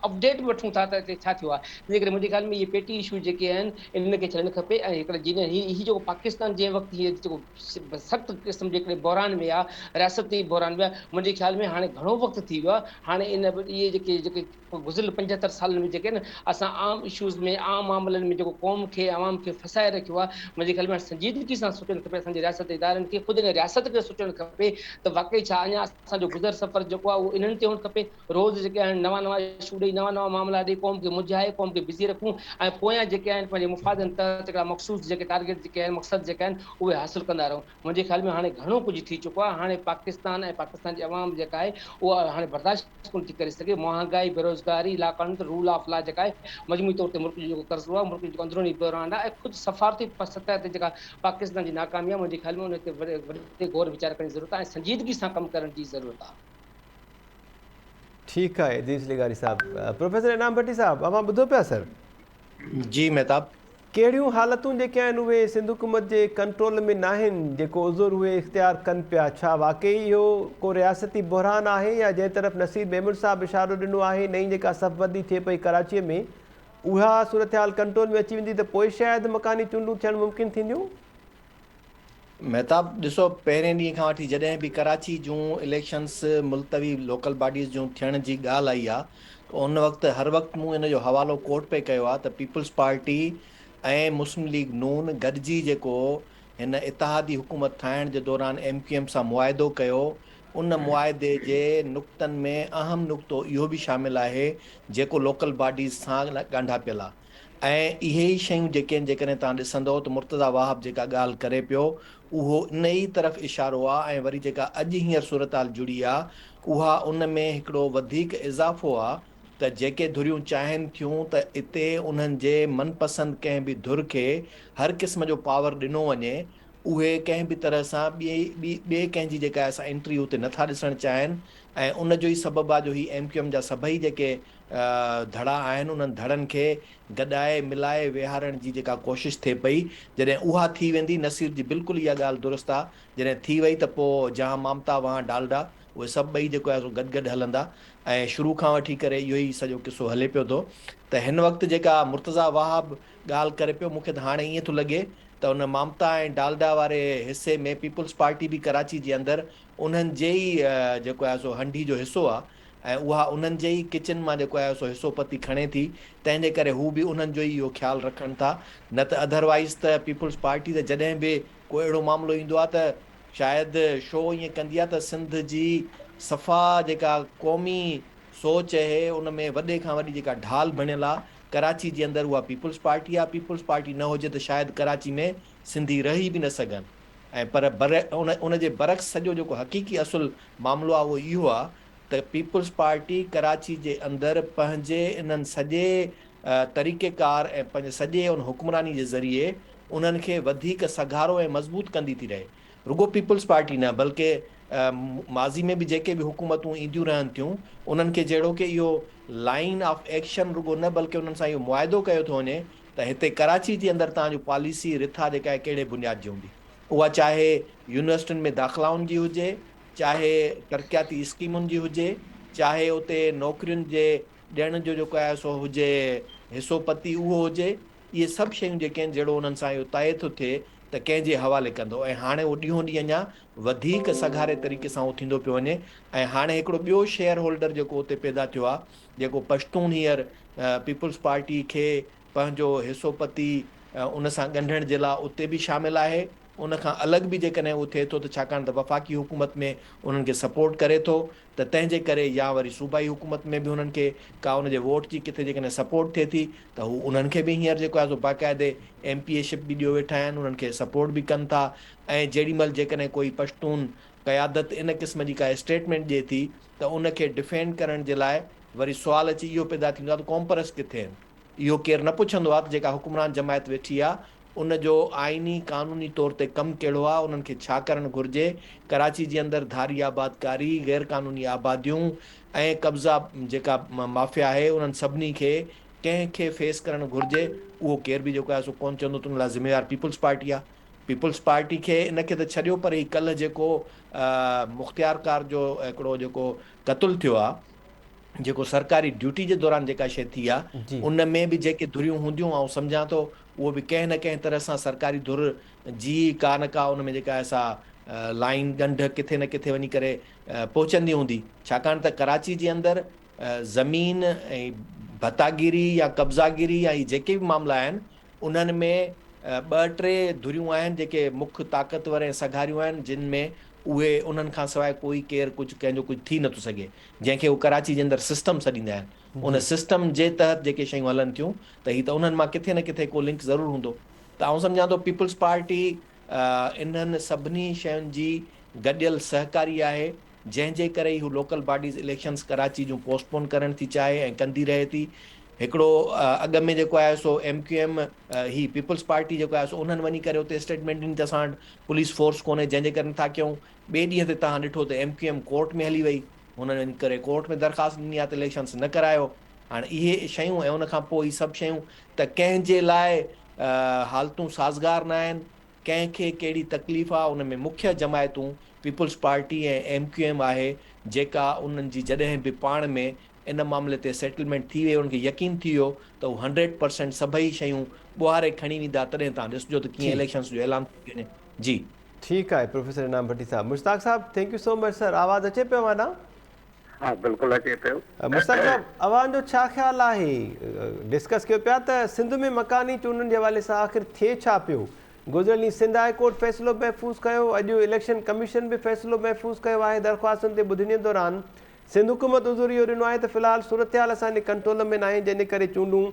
اپڊيٽ به وٺون ٿا ته هتي ڇا ٿيو آ، تنهنجي ڪري منهنجي خيال ۾ اهي پيٽي اشو جيڪي آهن، انهن کي ڇڏڻ کپي ۽ هڪڙا جينين هي هي جيڪو پاڪستان جنهن وقت هي جيڪو سخت قسم جي هڪڙي بحران ۾ آ، رياستي بحران ۾، منهنجي خيال ۾ هاڻي گهڻو وقت ٿي ويو آ، هاڻي ان اهي جيڪي جيڪي گذريل پنجهتر سالن ۾ جيڪي نه اسان عام اشوز ۾ عام معاملن ۾ جيڪو قوم کي عوام کي ڦاسائي رکيو آ، منهنجي خيال ۾ هاڻي سنجيدگي سان سوچڻ کپي اسان جي رياستي ادارن کي خود ان رياست کي سوچڻ کپي ته واقعي ڇا اڃا اسان جو گذر سفر جيڪو آ اهو انهن تي هئڻ کپي روز جيڪي آهن نوان نوان اشو ڏئي نوان نوان معاملا ڏئي قوم کي مجهائي قوم کي بزي رکون ۽ پويان جيڪي آهن پنهنجي مفادن تحت هڪڙا مخصوص جيڪي ٽارگيٽ جيڪي آهن مقصد جيڪا آهن اهي حاصل ڪندا رهون منهنجي خيال ۾ هاڻي گهڻو ڪجهه ٿي چڪو آهي هاڻي پاڪستان ۽ پاڪستان جي عوام جيڪا آهي اها هاڻي برداشت ڪونه ٿي ڪري سگهي مهانگائي بيروزگاري لاقانونيت رول آف لا جيڪا آهي مجموعي طور تي ملڪ جو جيڪو قرضو آهي ملڪ جو جيڪو اندروني بحران آهي ۽ خود سفارتي سطح تي جيڪا پاڪستان جي ناڪامي آهي منهنجي خيال ۾ ان تي وڏي غور ويچار ڪرڻ جي ضرورت آهي ۽ سنجيدگي سان ڪم ڪرڻ جي ضرورت آهي ٺيڪ
آهي ادريس لغاري صاحب پروفيسر انعام ڀٽي صاحب اوهان ٻڌو پيا سر جي
مهتاب ڪهڙيون حالتون
جيڪي آهن اهي سنڌ حڪومت جي ڪنٽرول ۾ ناهن جيڪو عذر اهي اختيار ڪن پيا ڇا واقعي اهو ڪو رياستي بحران آهي يا جنهن طرف نصير ميمڻ صاحب اشارو ڏنو آهي نئين جيڪا صف بندي ٿئي پئي ڪراچي ۾ اها صورتحال ڪنٽرول ۾ اچي ويندي ته پوء شايد مڪاني چونڊون ٿيڻ ممڪن ٿينديون مهتاب
ڏسو پهرين ڏينهن کان وٺي جڏهن به ڪراچي جون اليڪشنس ملتوي لوڪل باڊيز جون ٿيڻ جي ڳالهه آئي آ ته ان وقت هر وقت مون ان جو حوالو ڪورٽ پئي ڪيو آ ته پيپلز پارٽي ۽ مسلم ليگ نون گڏجي جيڪو هن اتحادي حڪومت ٺاهڻ جي دوران ايم ڪيو ايم سان معاهدو ڪيو ان معاهدي جي نقطن ۾ اهم نقطو اهو به شامل آهي جيڪو لوڪل باڊيز سان ڳانڍاپيل آ. ۽ اهي ئي شيون جيڪي آهن جيڪڏهن توهان ڏسندؤ ته مرتضيٰ واهب جيڪا ڳالهه ڪري پيو اهو ان ئي طرف اشارو آ ۽ وري جيڪا اڄ هينئر صورتحال جڙي آ اها ان ۾ هڪڙو وڌيڪ اضافو آ ته جيڪي ڌريون چاهين ٿيون ته اتي انهن جي من پسند ڪنهن به ڌر کي هر قسم جو پاور ڏنو وڃي اهي ڪنهن به طرح سان ٻئي ٻئي ڪنهن جي جيڪا آهي سا انٽري اتي نٿا ڏسڻ چاهين ۽ ان جو ئي سبب آ جو هي ايم ڪيو ايم جا سڀئي جيڪي ڌڙا آهن انهن ڌڙن کي گڏائي ملائي ويهارڻ جي جيڪا ڪوشش ٿئي پئي جڏهن اها ٿي ويندي نصير جي بلڪل اها ڳالهه درست آ جڏهن ٿي وئي ته پوء جهان مامتا وهان ڊالڊا اهي سڀ ٻئي جيڪو آهي سو گڏ گڏ هلندا ۽ شروع کان وٺي ڪري اهو ئي سڄو قصو هلي پيو ٿو ته هن وقت جيڪا مرتضيٰ وهاب ڳالهه ڪري پيو مون کي ته هاڻي ائين ٿو لڳي ته ان مامتا ۽ ڊالڊا واري حصي ۾ پيپلز پارٽي به ڪراچي جي اندر انهن جي ئي جيڪو آهي سو هنڍي جو حصو آ ۽ اها انهن جي ئي ڪچن مان جيڪو آهي سو حصو پتي کڻي ٿي تنهن جي ڪري هو به انهن جو ئي اهو خيال رکن ٿا نه ته اڌروائيز ته پيپلز پارٽي ته جڏهن به ڪو اهڙو معاملو ايندو آهي ته شايد شو ائين ڪندي آهي ته سنڌ جي صفا جيڪا قومي سوچ اهي ان ۾ وڏي کان وڏي جيڪا ڍال بڻيل آهي ڪراچي جي اندر اها پيپلز پارٽي آهي پيپلز پارٽي نه هجي ته شايد ڪراچي ۾ سنڌي رهي به نه سگهن ۽ پر ان جي برعڪس سڄو جيڪو حقيقي اصل معاملو اهو ئي هو ته پيپلز پارٽي ڪراچي جي اندر پنهنجي انهن سڄي طريقي ڪار ۽ پنهنجي سڄي ان حڪمراني جي ذريعي انهن کي وڌيڪ سگهارو ۽ مضبوط ڪندي ٿي رهي. رڳو پيپلز پارٽي نه بلڪه ماضي ۾ به جيڪي به حڪومتون اينديون رهن ٿيون انهن کي جهڙوڪ اهو لائين آف ايڪشن رڳو نه بلڪه انهن سان اهو معاهدو ڪيو ٿو وڃي ته هتي ڪراچي جي اندر توهان جو پاليسي رٿا جيڪا آهي ڪهڙي بنياد جي هوندي. اها چاهي يونيورسٽين ۾ داخلائن جي هجي، چاهي ترقياتي اسڪيمن جي هجي، چاهي اتي نوڪرين جي ڏيڻ جو جيڪو آهي سو هجي حصو پتي اهو هجي، اهي سڀ شيون جيڪي آهن جهڙو انهن سان اهو طئي ٿو ٿئي ته ڪنهن جي حوالي ڪندو ۽ هاڻي اهو ڏينهون ڏينهن اڃا وڌيڪ سگهاري طريقي سان اهو ٿيندو پيو وڃي ۽ هاڻي هڪڙو ٻيو شيئر هولڊر جيڪو اتي پيدا ٿيو آهي جيڪو پشتون هينئر پيپلز پارٽي کي پنهنجو حصو پتي ان سان ڳنڍڻ جي لاء اتي به شامل آهي، ان کان الڳ به جيڪڏهن اهو ٿئي ٿو ته ڇاڪاڻ ته وفاقي حڪومت ۾ انهن کي سپورٽ ڪري ٿو ته تنهن جي ڪري يا وري صوبائي حڪومت ۾ به انهن کي ڪا ان جي ووٽ جي ڪٿي جيڪڏهن سپورٽ ٿئي ٿي ته هو انهن کي به هينئر جيڪو آهي سو باقاعدي ايم پي اي شپ به ڏيو ويٺا آهن انهن کي سپورٽ به ڪن ٿا ۽ جيڏي مهل جيڪڏهن ڪوئي پشتون قيادت ان قسم جي ڪا اسٽيٽمينٽ ڏئي ٿي ته ان کي ڊفينڊ ڪرڻ جي لاء وري سوال اچي اهو پيدا ٿيندو آهي ته ڪومپرس ڪٿي آهن. اهو ڪير نه پڇندو آهي ته جيڪا حڪمران جماعت ويٺي آهي ان جو آئيني قانوني طور تي ڪم ڪهڙو آهي انهن کي ڇا ڪرڻ گهرجي ڪراچي جي اندر ڌاري آبادڪاري غير قانوني آباديون ۽ قبضا جيڪا مافيا آهي انهن سڀني کي ڪنهن کي فيس ڪرڻ گهرجي اهو ڪير به جيڪو آهي سو ڪونه چوندو ته ان لاء ذميوار پيپلز پارٽي آهي پيپلز پارٽي کي ان کي ته ڇڏيو پر هي ڪلهه جيڪو مختيارڪار جو هڪڙو جيڪو قتل ٿيو آهي جيڪو سرڪاري ڊيوٽي جي دوران جيڪا شيء ٿي آ ان ۾ به جيڪي ڌريون هونديون آئون سمجهان ٿو اهو به ڪنهن نه ڪنهن طرح سان سرڪاري ڌر جي ڪا نه ڪا ان ۾ جيڪا آهي سا لائين ڳنڍ ڪٿي نه ڪٿي وڃي ڪري پهچندي هوندي ڇاڪاڻ ته ڪراچي جي اندر زمين ۽ ڀتاگيري يا قبضاگيري يا هي جيڪي به معاملا آهن انهن ۾ ٻه ٽي ڌريون آهن جيڪي مک طاقتور ۽ سگهاريون آهن جن ۾ اهي انهن کان سواء ڪوئي ڪير ڪجهه ڪنهن جو ڪجهه ٿي نٿو سگهي جنهن کي هو ڪراچي جي اندر سسٽم سڏيندا آهن، ان سسٽم جي تحت جيڪي شيون هلن ٿيون ته هي ته انهن مان ڪٿي نه ڪٿي ڪو لنڪ ضرور هوندو ته آئون سمجهان ٿو پيپلز پارٽي انهن سڀني شين جي گڏيل سهڪاري آهي جنهن جي ڪري ئي هو لوڪل باڊيز اليڪشنز ڪراچي جون پوسٽ پون ڪرڻ ٿي چاهي ۽ ڪندي رهي ٿي هڪڙو اڳ ۾ جيڪو آهي سو ايم ڪيو ايم هي پيپلز پارٽي جيڪو آهي سو انهن وڃي ڪري اتي اسٽيٽمينٽ ڏني ته اسان وٽ پوليس فورس ڪونهي جنهن جي ڪري نٿا ڪيون ٻئي ڏينهن تي توهان ڏٺو ته ايم ڪيو ايم ڪورٽ ۾ هلي وئي، هنن ان ڪري ڪورٽ ۾ درخواست ڏني آهي ته اليڪشنز نه ڪرايو. هاڻ اهي شيون ۽ ان کانپوء هي سڀ شيون ته ڪنهن جي لاء حالتون سازگار نه آهن، ڪنهن کي ڪهڙي تڪليف آهي، ان ۾ مکيه جماعتون پيپلز پارٽي ۽ ايم ڪيو ايم آهي جيڪا انهن جي جڏهن به پاڻ ۾ ان معاملي تي سيٽلمينٽ ٿي وئي انهن کي يقين ٿي ويو ته هو هنڊريڊ پرسينٽ سڀئي شيون ٻوهاري کڻي ويندا تڏهن توهان ڏسجو ته ڪيئن اليڪشنز جو اعلان ٿو ٿي وڃي. جي. ٺيڪ
آهي professor Inam Bhatti sahib. Mushtaq sahib thank you so much sir آواز اچي پيو اوهان ڏانهن. ها
بلڪل اچي پيو. مشتاق صاحب
اوهان جو ڇا خيال آهي ڊسڪس ڪيو پيا ته سنڌ ۾ مڪاني چونڊن جي حوالي سان آخر ٿئي ڇا پيو گذريل ڏينهن سنڌ هاء ڪورٽ فيصلو محفوظ ڪيو اڄ اليڪشن ڪميشن به فيصلو محفوظ ڪيو آهي درخواستن تي ٻڌڻين دوران سنڌ حڪومت عذر اهو ڏنو آهي ته في الحال صورتحال اسان جي ڪنٽرول ۾ ناهي جنهن جي ڪري چونڊون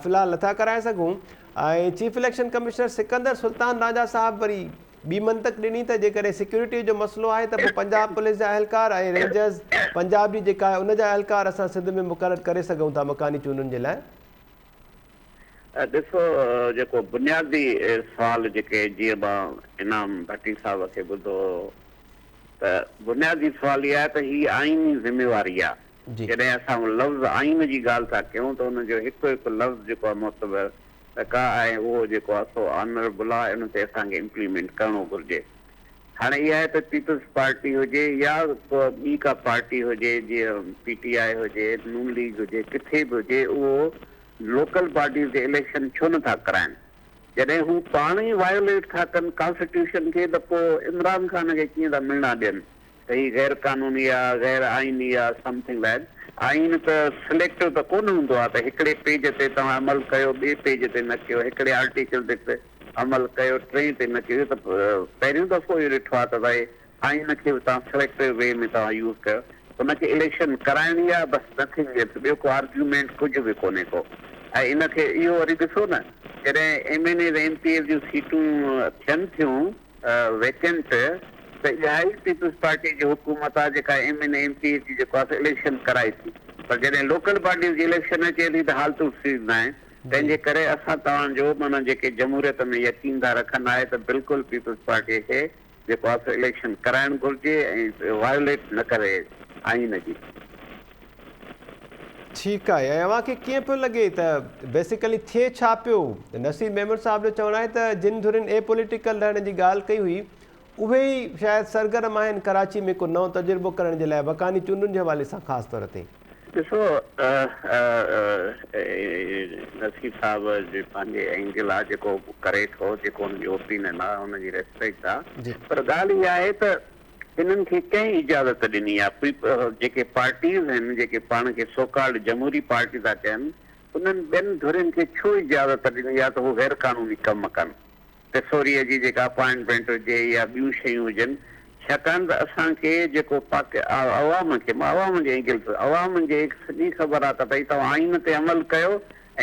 في الحال نٿا ڪرائي سگهون ۽ chief election commissioner Sikandar Sultan Raja sahib وري ٻي منطق ڏني ته جيڪڏهن سيڪيورٽي جو مسئلو آهي ته پوء پنجاب پوليس جا اهلڪار ۽ رينجرز پنجاب جي جيڪا آهي ان جا اهلڪار اسان سنڌ ۾ مقرر ڪري سگهون ٿا مڪاني چونڊن جي لاء.
ڏسو جيڪو بنيادي سوال جيڪي جيئن مان انعام ڀٽي صاحب کي ٻڌو هو. ته بنيادي سوال اهي آهي ته هي آئيني ذميواري آهي جڏهن اسان لفظ آئين جي ڳالهه ٿا ڪيون ته ان جو هڪ هڪ لفظ جيڪو آهي معتبر ته ڪا آهي اهو جيڪو آهي سو آنر بلا ان تي اسان کي امپليمينٽ ڪرڻو گهرجي هاڻي اها آهي ته پيپلز پارٽي هجي يا ڪو ٻي ڪا پارٽي هجي جيئن پي ٽي آء هجي نون ليگ هجي ڪٿي به هجي اهو لوڪل باڊيز جي اليڪشن ڇو نه ٿا ڪرائين. جڏهن هو پاڻ ئي وائيوليٽ ٿا ڪن ڪانسٽيٽيوشن کي ته پوء عمران خان کي ڪيئن ٿا مهڻا ڏين ته هي غير قانوني آ غير آئيني آ سم ٿنگ لائڪ آئين ته سليڪٽو ته ڪونه هوندو آ ته هڪڙي پيج تي توهان عمل ڪيو ٻي پيج تي نه ڪيو هڪڙي آرٽيڪل تي عمل ڪيو ٽئين تي نه ڪيو اهو ته پهريون دفعو اهو ڏٺو آ ته ڀائي سائين ان کي به توهان سليڪٽو وي ۾ توهان يوز ڪيو ان کي اليڪشن ڪرائڻي آ بس نٿنگ ايلس ٻيو ڪو آرگيومينٽ ڪجهه به ڪونهي ڪو ۽ ان کي اهو وري ڏسو نه جڏهن M N As M P As جون سيٽون ٿين ٿيون ويڪنٽ ته اها ئي پيپلز پارٽي جي حڪومت آ جيڪا M N M P As جي جيڪو آ سو اليڪشن ڪرائي ٿي پر جڏهن لوڪل باڊيز جي اليڪشن اچي ٿي ته حالتون ٿينديون آهن تنهنجي ڪري اسان توهان جو معنيٰ جيڪي جمهوريت ۾ يقين ٿا رکن آهي ته بلڪل پيپلز پارٽي کي جيڪو آسو اليڪشن ڪرائڻ گهرجي ۽ وائوليٽ
نه ڪري آئين جي. ٺيڪ آهي ۽ اوهان کي ڪيئن پيو لڳي ته بيسيڪلي ٿئي ڇا پيو؟ نصير ميمڻ صاحب جو چوڻ آهي ته جن ڌرين اي پوليٽيڪل رهڻ جي ڳالهه ڪئي هئي اهي ئي شايد سرگرم آهن ڪراچي ۾ ڪو نئون تجربو ڪرڻ جي لاء وڪاني چونڊن جي حوالي سان خاص طور تي. ڏسو
نصير صاحب جي پنهنجي اينگل آ جيڪو ڪري ٿو جيڪو هن جي اوپينن آ هن جي ريسپيڪٽ آ پر ڳالهه اها آهي ته هنن کي ڪنهن اجازت ڏني آ جيڪي پارٽيز آهن جيڪي پاڻ کي سو ڪالڊ جمهوري پارٽي ٿا چين انهن ٻين ڌرين کي ڇو اجازت ڏني آ ته هو غير قانوني ڪم ڪن ڪسوريء جي جيڪا اپائنٽمينٽ هجي يا ٻيون شيون هجن، ڇاڪاڻ ته اسان کي جيڪو پاڪ عوام کي مان عوام جي انگلس عوام جي هڪ سڄي خبر آهي ته ڀئي توهان آئين تي عمل ڪيو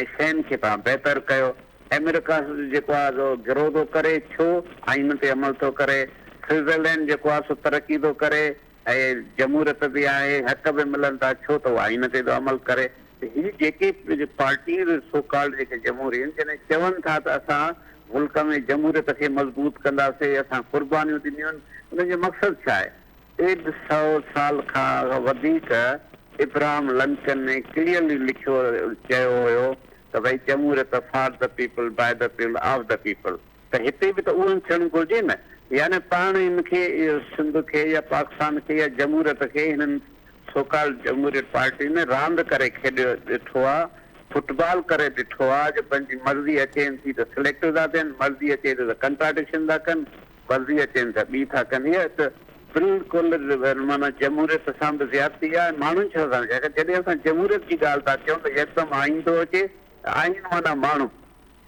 ۽ شين کي توهان بهتر ڪيو. امريڪا جيڪو آهي سو گرو ٿو ڪري ڇو آئين تي عمل ٿو ڪري، سوئزرلينڊ جيڪو آهي سو ترقي ٿو ڪري، اهي جمهوريت به آهي، حق به ملن ٿا، ڇو ته هو آئين تي ٿو عمل ڪري. هي جيڪي پارٽيز سو ڪالڊ جيڪي جمهورين جڏهن چون ٿا ته اسان ملڪ ۾ جمهوريت کي مضبوط ڪنداسين، اسان قربانيون ڏنيون، انهن جو مقصد ڇا آهي؟ ڏيڍ سئو سال کان وڌيڪ ابراهم لنڪن ڪليئرلي لکيو چيو هيو ته ڀئي جمهوريت for the people by the people of the people. ته هتي به ته اهوئي ٿيڻ گهرجي نه. يعني پاڻ هن کي سنڌ کي يا پاڪستان کي يا جمهوريت کي هنن سو ڪالڊ جمهوريت پارٽين راند ڪري کيڏي ڏٺو آ، فٽ بال ڪري ڏٺو آ جو پنهنجي مرضي اچين ٿي ته سليڪٽر ٿا ٿين، مرضي اچي ٿي ته ڪنٽراڊڪشن ٿا ڪن، مرضي اچين ٿي ته ٻي ٿا ڪن. هيء ته بلڪل معنيٰ جمهوريت سان به زيادتي آ ۽ ماڻهن سان به زيادتي آ. جڏهن اسان جمهوريت جي ڳالهه ٿا ڪيون ته يڪدم آئين ٿو اچي ۽ آئين معنيٰ ماڻهو.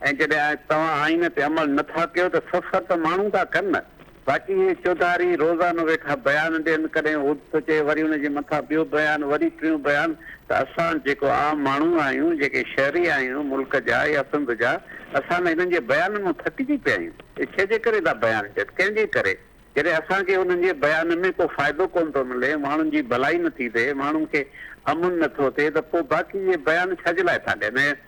۽ جڏهن توهان آئين تي عمل نه ٿا ڪيو ته سفر ته ماڻهو ٿا ڪن نه باقي هي چوڌاري روزانو ويٺا بيان ڏين ڪڏهن هوڏ ٿو چئي وري ان جي مٿان ٻيو بيان وري ٽيون بيان ته اسان جيڪو عام ماڻهو آهيون جيڪي شهري آهيون ملڪ جا يا سنڌ جا اسان نه هنن جي بيانن مان ٿڪجي پيا آهيون اهي ڇي جي ڪري ٿا بيان ڏين ڪنهن جي ڪري جڏهن اسان کي انهن جي بيانن ۾ ڪو فائدو ڪونه ٿو ملي ماڻهن جي ڀلائي نه ٿي ٿئي ماڻهن کي امن نه ٿو ٿئي ته پوء باقي اهي بيان ڇا جي لاء ٿا ڏين ۽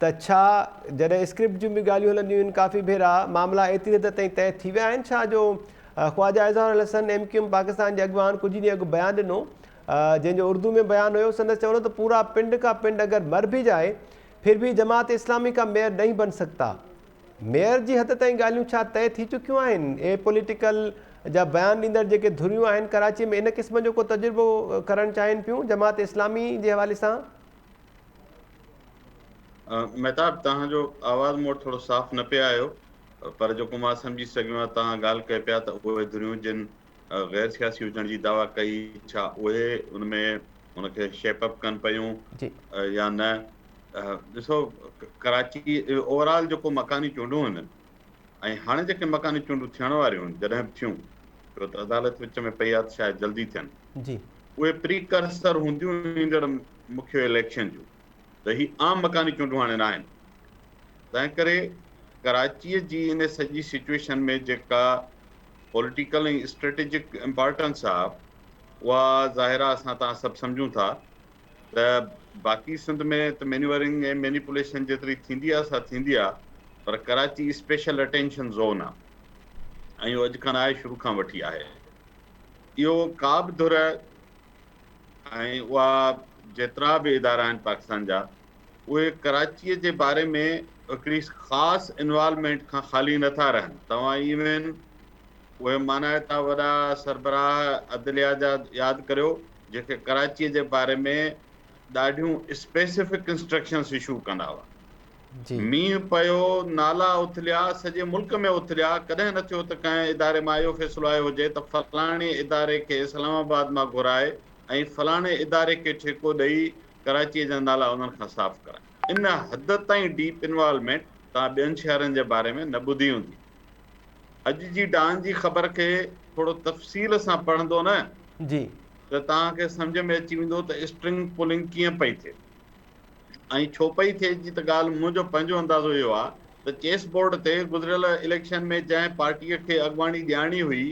ته ڇا جڏهن اسڪرپٽ جون به ڳالهيون هلنديون آهن ڪافي ڀيرا معاملا ايتري حد تائين طئي ٿي ويا آهن ڇا جو خواجه اظهار الحسن ايم ڪيو ايم پاڪستان جي اڳواڻ ڪجهه ڏينهن اڳ بيان ڏنو جنهن جو اردو ۾ بيان هيو سندس چوڻ هو ته پورا پنڊ ڪا پنڊ اگر مر ڀي جائي ڦر ڀي جماعت اسلامي ڪا ميئر نهين بن سگتا ميئر جي حد تائين ڳالهيون ڇا طئي ٿي چڪيون آهن اهي پوليٽيڪل جا بيان ڏيندڙ جيڪي ڌريون آهن ڪراچي ۾ ان قسم جو ڪو تجربو ڪرڻ چاهين پيون جماعت اسلامي جي حوالي سان
مهتاب توهان جو آواز مون وٽ ٿورو صاف نه پي آيو پر جيڪو مان سمجهي سگهيو آهيان توهان ڳالهه ڪئي پيا ته اهي ڌريون جن غير سياسي هجڻ جي دعويٰ ڪئي ڇا اهي ان ۾ ان کي شيپ اپ ڪن پيون يا نه ڏسو ڪراچي اوور آل جيڪو مڪاني چونڊون آهن ۽ هاڻي جيڪي مڪاني چونڊون ٿيڻ واريون هن جڏهن به ٿيون ڇو ته عدالت وچ ۾ پئي آهي ته شايد جلدي ٿين اهي پري ڪرسر هونديون ايندڙ مکيه اليڪشن جون ته هي عام مڪاني چونڊون هاڻي ناهن تنهن ڪري ڪراچيء جي ان سڄي سچويشن ۾ جيڪا پوليٽيڪل ۽ اسٽريٽجڪ امپارٽنس آهي اها ظاهر آهي اسان تان سڀ سمجهون ٿا ته باقي سنڌ ۾ ته مينيورنگ ۽ مينيپوليشن جيتري ٿيندي آهي سا ٿيندي آهي پر ڪراچي اسپيشل اٽينشن زون آهي ۽ اهو اڄ کان آهي شروع کان وٺي آهي اهو ڪا به ڌر ۽ اها جيترا به ادارا آهن پاڪستان جا اهي ڪراچيء جي باري ۾ هڪڙي خاص انوالومينٽ کان خالي نٿا رهن توهان ايون اهي مانائي ٿا وڏا سربراهه عدليا جا ياد ڪريو جن کي ڪراچي جي باري ۾ ڏاڍيون اسپيسفڪ انسٽرڪشنس اشو ڪندا هئا مينهن پيو نالا اٿليا سڄي ملڪ ۾ اٿليا ڪڏهن نه ٿيو ته ڪنهن اداري مان اهو فيصلو آيو هجي ته فلاڻي اداري کي اسلام آباد مان گهرائي ۽ فلاڻي اداري کي ٺيڪو ڏئي ڪراچي جا نالا انهن کان صاف ڪرائي ان حد تائين ڊيپ انوالومينٽ توهان ٻين شهرن جي باري ۾ نه ٻڌي هوندي اڄ جي ڊان جي خبر کي ٿورو تفصيل سان پڙهندو نه جي ته توهان کي سمجهه ۾ اچي ويندو ته اسٽرنگ پولنگ ڪيئن پئي ٿئي ۽ ڇو پئي ٿئي جي ته ڳالهه منهنجو پنهنجو اندازو اهو آهي ته چيس بورڊ تي گذريل اليڪشن ۾ جنهن پارٽيء کي اڳواڻي ڏيارڻي هئي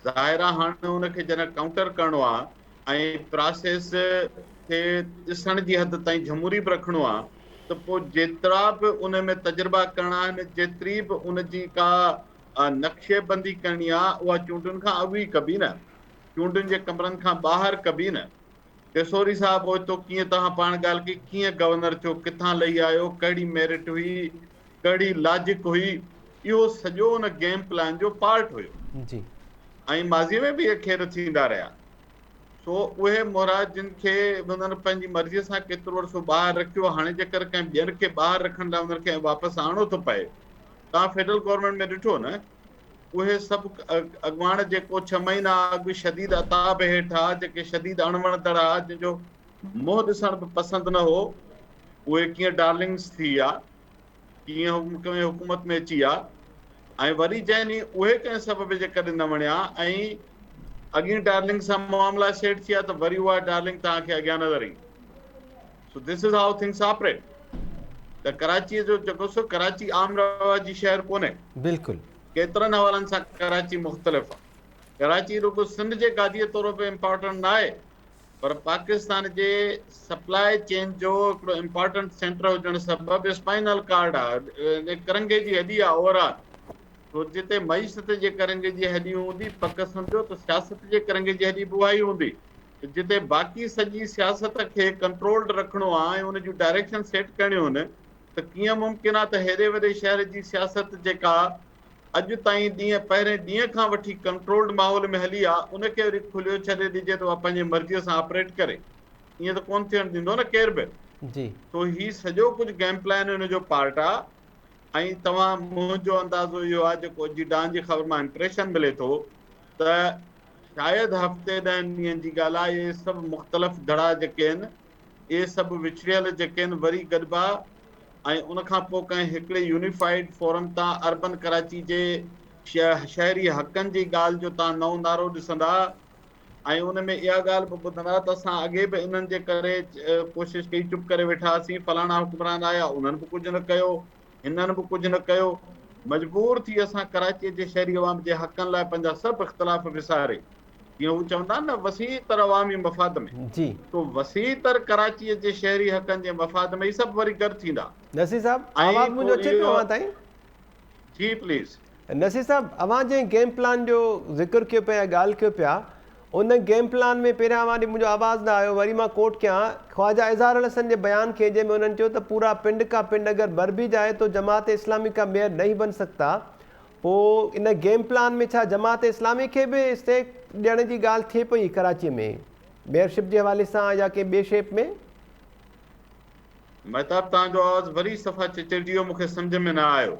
ظاهر آ هاڻ ان کي جڏهن ڪائونٽر ڪرڻو آ ۽ پراسيس کي ڏسڻ جي حد تائين جهموري به رکڻو آ ته پو جيترا به ان ۾ تجربا ڪرڻا آهن جيتري به ان جي ڪا نقشي بندي ڪرڻي آ اها چونڊن کان اڳ ئي ڪبي نه چونڊن جي ڪمرن کان ٻاهر ڪبي نه ڏسوري صاحب اوچتو ڪيئن توهان پاڻ ڳالهه ڪئي ڪيئن گورنر ٿيو ڪٿان لهي آيو ڪهڙي ميرٽ هئي ڪهڙي لاجڪ هئي اهو سڄو ان گيم پلان جو پارٽ هيو جي ۽ ماضي ۾ به اهي کير ٿيندا رهيا سو اهي مورا جن کي انهن پنهنجي مرضي سان ڪيترو عرصو ٻاهر رکيو هاڻي جيڪر ڪنهن ٻين کي ٻاهر رکڻ لاء انهن کي واپس آڻو ٿو پئي توهان فيڊرل گورنمينٽ ۾ ڏٺو نه اهي سڀ اڳواڻ جيڪو ڇهه مهينا اڳ شديد عتاب هيٺ ها، جيڪي شديد اڻوڻتڙ ها، جن جو منهن ڏسڻ به پسند نه هو، اهي ڪيئن ڊارلنگس ٿي ويا، ڪيئن ڪنهن حڪومت ۾ اچي ويا ۽ وري جنهن ڏينهن اهي ڪنهن سبب جي ڪري نه وڻيا ۽ اڳين ڊارلنگ سان معاملا سيٽ ٿي ويا ته وري اها ڊارلنگ توهان کي اڳيان نظر ايندي. So this is how things operate ته ڪراچي جو جيڪو سو ڪراچي عام رواجي شهر ڪونهي بلڪل
ڪيترن حوالن
سان ڪراچي مختلف آ ڪراچي رڳو سنڌ جي گاديء طور به امپارٽنٽ نه آهي پر پاڪستان جي سپلاء چين جو هڪڙو امپارٽنٽ سينٽر هجڻ سبب اسپائنل ڪارڊ آ ڪرنگهي جي هڏي آ اوور آل سو جتي معيشت جي ڪرنگهي جي هڏي هوندي پڪ سمجهو ته سياست جي ڪرنگهي جي هڏي به اها ئي هوندي جتي باقي سڄي سياست کي ڪنٽرولڊ رکڻو آ ۽ ان جون ڊائريڪشن سيٽ ڪرڻيون هن ته ڪيئن ممڪن آ ته هيڏي وڏي شهر جي سياست جيڪا اڄ تائين ڏينهن پهرين ڏينهن کان وٺي ڪنٽرولڊ ماحول ۾ هلي آ ان کي وري کليو ڇڏي ڏجي ته اها پنهنجي مرضي سان آپريٽ ڪري ائين ته ڪونه ٿيڻ ڏيندو نه ڪير به جي سو هي سڄو ڪجهه گيم پلان ان جو پارٽ آ ۽ توهان منهنجو اندازو اهو آ جيڪو اڄ جي ڊان جي خبر مان امپريشن ملي ٿو ته شايد هفتي ڏهن ڏينهن جي ڳالهه آهي. اهي سڀ مختلف دڙا جيڪي آهن، اهي سڀ وڇڙيل جيڪي آهن، وري گڏبا ۽ ان کان پوء ڪنهن هڪڙي يونيفائيڊ فورم تان اربن ڪراچي جي شهري حقن جي ڳالهه جو تان نئون نعرو ڏسندا ۽ ان ۾ اها ڳالهه به ٻڌندا ته اسان اڳي به انهن جي ڪري ڪوشش ڪئي چپ ڪري ويٺا هئاسين، فلاڻا حڪمران آيا انهن به ڪجهه نه ڪيو، هنن به ڪجهه نه ڪيو. مجبور ٿي اسان ڪراچيء جي شهري عوام جي حقن لاء پنهنجا سڀ اختلاف وساري، جيئن هو چوندا آهن نه وسيع تر عوامي مفاد ۾، سو وسيع تر ڪراچيء جي شهري حقن جي مفاد ۾ ئي سڀ وري گڏ ٿيندا. نصير صاحب!
آواز منهنجو اچي پيو اوهان تائين؟ جي پليز.
نصير
صاحب! اوهان جنهن گيم پلان جو ذڪر ڪيو پيا
يا
ڳالهه ڪيو پيا، ان گيم پلان ۾ پهريان واري منهنجو آواز نه آيو وري مان ڪوٽ ڪيان خواجه اظهار الحسن جي بيان کي جنهن ۾ انهن چيو ته پورا پنڊ ڪا پنڊ اگر مر ڀي جائي تو جماعت اسلامي ڪا ميئر نهين بن سگتا پو ان گيم پلان ۾ ڇا جماعت اسلامي کي به اسٽيڪ ڏيڻ جي ڳالهه ٿئي پئي ڪراچي ۾ ميئر شپ جي حوالي سان يا ڪنهن ٻي شيپ ۾.
مهتاب توهان جو آواز وري صفا چچرجي ويو مون کي سمجهه ۾ نه آيو.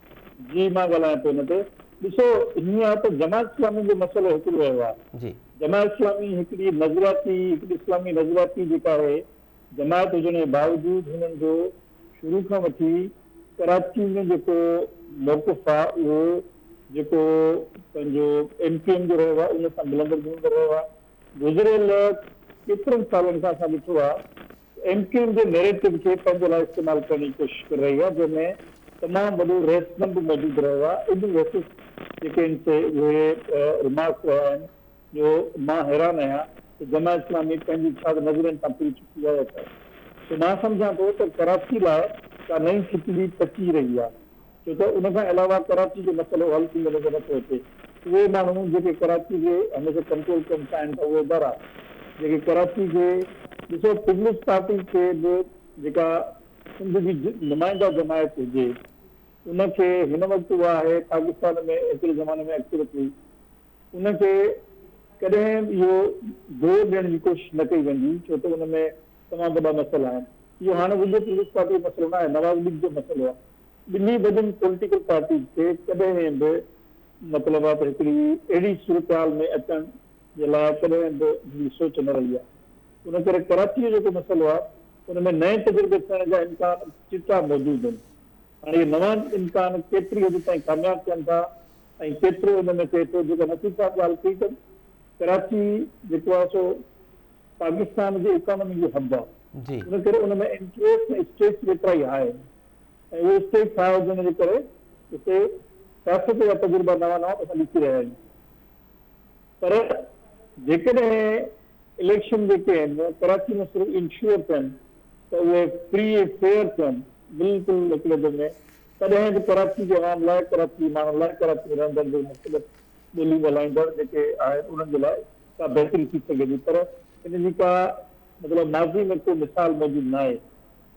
جي مان
ڳالهايان ٿو ان تي. ڏسو هيئن آهي ته جماعت اسلامي جو مسئلو هڪڙو رهيو آهي. جماعت اسلامي هڪڙي نظرياتي هڪڙي اسلامي نظرياتي جيڪا آهي جماعت هجڻ جي باوجود هنن جو شروع کان وٺي ڪراچي ۾ جيڪو موقف آهي اهو جيڪو پنهنجو ايم ڪيو ايم جو رهيو آهي ان سان ملندڙ جلندڙ رهيو آهي. گذريل ڪيترن سالن کان اسان ڏٺو آهي ايم ڪيو ايم جي نيريٽو کي پنهنجي لاء استعمال ڪرڻ جي ڪوشش ڪري رهي آهي جنهن ۾ تمام وڏو رهسپن به موجود رهيو آهي اڄ ويسز جيڪي آهن سي اهي رمارڪس رهيا آهن جو مان حيران آهيان ته جماعت اسلامي پنهنجي ڇا ته نظرين تان ڦري چڪي آهي يا ڇا سو مان سمجهان ٿو ته ڪراچي لاء ڪا نئين کچڙي پچي رهي آهي. ڇو ته ان کان علاوه ڪراچي جو مسئلو حل ٿيندو نظر نه ٿو اچي. اهي ماڻهو جيڪي ڪراچي کي هميشه ڪنٽرول ڪرڻ چاهين ٿا اهي ادارا جيڪي ڪراچي کي ڏسو پيپلز پارٽي کي به جيڪا سنڌ جي نمائنده جماعت هجي ان کي هن وقت اها آهي پاڪستان ۾ ايتري زماني ۾ اڪثريت هئي ان کي ڪڏهن به اهو زور ڏيڻ جي ڪوشش نه ڪئي ويندي ڇو ته ان ۾ تمام وڏا مسئلا آهن اهو هاڻي رڳو پيپلز پارٽي جو مسئلو نه آهي نواز ليگ جو مسئلو آهي. ٻنهي وڏين پوليٽيڪل پارٽيز کي ڪڏهن به مطلب آهي ته هڪڙي اهڙي صورتحال ۾ اچڻ جي لاء ڪڏهن به هڪڙي سوچ نه رهي آهي. ان ڪري ڪراچي جو جيڪو مسئلو آهي ان ۾ نئين تجربي ٿيڻ جا امڪان چٽا موجود آهن. هاڻي اهي نوان امڪان ڪيتري حد تائين ڪامياب ٿين ٿا ۽ ڪيترو ان ۾ ٿئي ٿو جيڪا نصيب صاحب ڳالهه ڪئي ته ڪراچي جيڪو آهي سو پاڪستان جي اڪانومي جو هب آهي ان ڪري ان ۾ انٽريسٽ ۽ اسٽريس به ايترا ئي هاء آهن ۽ اهو اسٽريس هاء هجڻ جي ڪري اتي سياست جا تجربا نوان نوان اسان ڏسي رهيا آهيون پر جيڪڏهن اليڪشن جيڪي آهن ڪراچي ۾ صرف انشور ٿين ته اهي فري ۽ فيئر ٿين بلڪل هڪڙي دم ۾ تڏهن به ڪراچي جي عوام لاء ڪراچي جي ماڻهن لاء ڪراچي ۾ رهندڙ جي مختلف ٻوليون ڳالهائيندڙ جيڪي آهن انهن جي لاء ڪا بهتري ٿي سگهي ٿي پر ان جي ڪا مطلب ماضي ۾ ڪو مثال موجود ناهي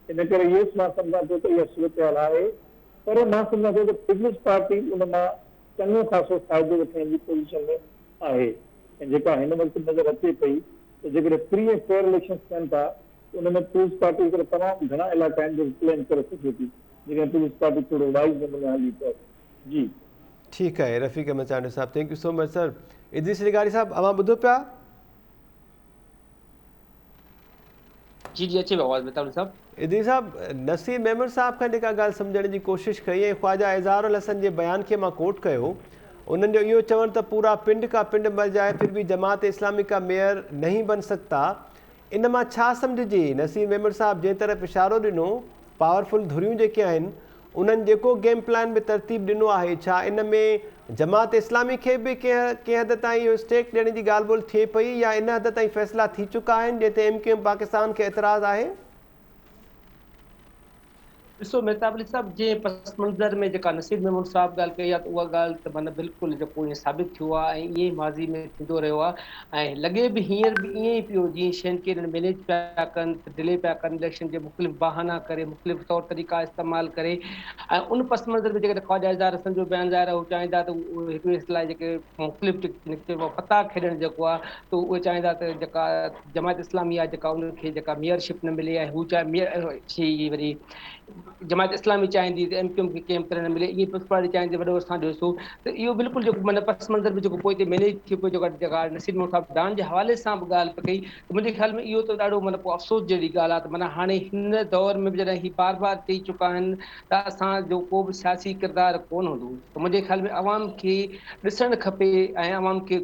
ان ڪري يس مان سمجهان ٿو ته اها صورتحال آهي پر مان سمجهان ٿو ته پيپلز پارٽي ان مان چڱو خاصو فائدو وٺڻ جي پوزيشن ۾ آهي ۽ جيڪا هن وقت نظر اچي پئي ته جيڪڏهن فري ۽ فيئر اليڪشنز ٿين ٿا ان ۾ پيپلز پارٽي هڪڙا تمام گهڻا علائقا آهن جيڪي ڪليم ڪري سگهي ٿي جيڪڏهن پيپلز پارٽي ٿورو وائز نموني هلي ته جي. ٺيڪ آهي
رفيق Ahmed Chandio sahib thank you so much sir Idrees لغاري صاحب اوهان ٻڌو پيا.
جي جي اچي آواز متاڻي صاحب. ادريس صاحب
نصير ميمڻ صاحب کان جيڪا ڳالهه سمجهڻ جي ڪوشش ڪئي ۽ خواجا اظهار الحسن جي بيان کي مان ڪوٽ ڪيو انهن جو اهو چوڻ ته پورا پنڊ ڪا پنڊ مر جائي پھر به جماعت اسلامي ڪا ميئر نهين بن سگتا ان مان ڇا سمجهجي؟ نصير ميمڻ صاحب جنهن طرف اشارو ڏنو، پاور فل ڌريون جيڪي آهن، انهن جيڪو گيم پلان به ترتيب ڏنو آهي، ڇا ان ۾ جماعت اسلامي کي به ڪنهن حد تائين اهو اسٽيڪ ڏيڻ جي ڳالهه ٻولهه ٿئي پئي يا ان حد تائين فيصلا ٿي چڪا آهن جنهن تي ايم ڪيو ايم پاڪستان کي اعتراض آهي؟
ڏسو مهتاب علي صاحب جي پس منظر ۾ جيڪا نصير محمود صاحب ڳالهه ڪئي آهي ته اها ڳالهه ته معنيٰ بلڪل جيڪو ائين ثابت ٿيو آهي ۽ ائين ئي ماضي ۾ ٿيندو رهيو آهي ۽ لڳي به هينئر به ائين ئي پيو جيئن شين کي هنن مينيج پيا ڪن ڊلي پيا ڪن اليڪشن جي مختلف بهانا ڪري مختلف طور طريقا استعمال ڪري ۽ ان پس منظر ۾ جيڪڏهن خواجه اظهار حسن جو بيان ظاهر هو چاهين ٿا ته هڪ ٻئي لاء جيڪي مختلف فتح کيڏڻ جيڪو آهي ته اهي چاهين ٿا ته جيڪا جماعت اسلامي آ جيڪا ان کي جيڪا ميئر شپ نه ملي ۽ هو چاهي ميئر شي جي وري جماعت اسلامي چاهيندي ته ايم ڪيو ايم کي ڪيم ڪري نه ملي ايئن پيپلز پارٽي چاهيندي وڏو اسان ڏيو سو ته اهو بلڪل جيڪو معنيٰ پس منظر ۾ جيڪو پوء تي مئنيج ٿيو پيو جيڪا جيڪا نصير مون صاحب ڊان جي حوالي سان به ڳالهه پئي ڪئي ته منهنجي خيال ۾ اهو ته ڏاڍو معنيٰ پوء افسوس جهڙي ڳالهه آ ته معنيٰ هاڻي هن دور ۾ به جڏهن هي بار بار چئي چڪا آهن ته اسان جو ڪو به سياسي ڪردار ڪون هوندو ته منهنجي خيال ۾ عوام کي ڏسڻ کپي ۽ عوام کي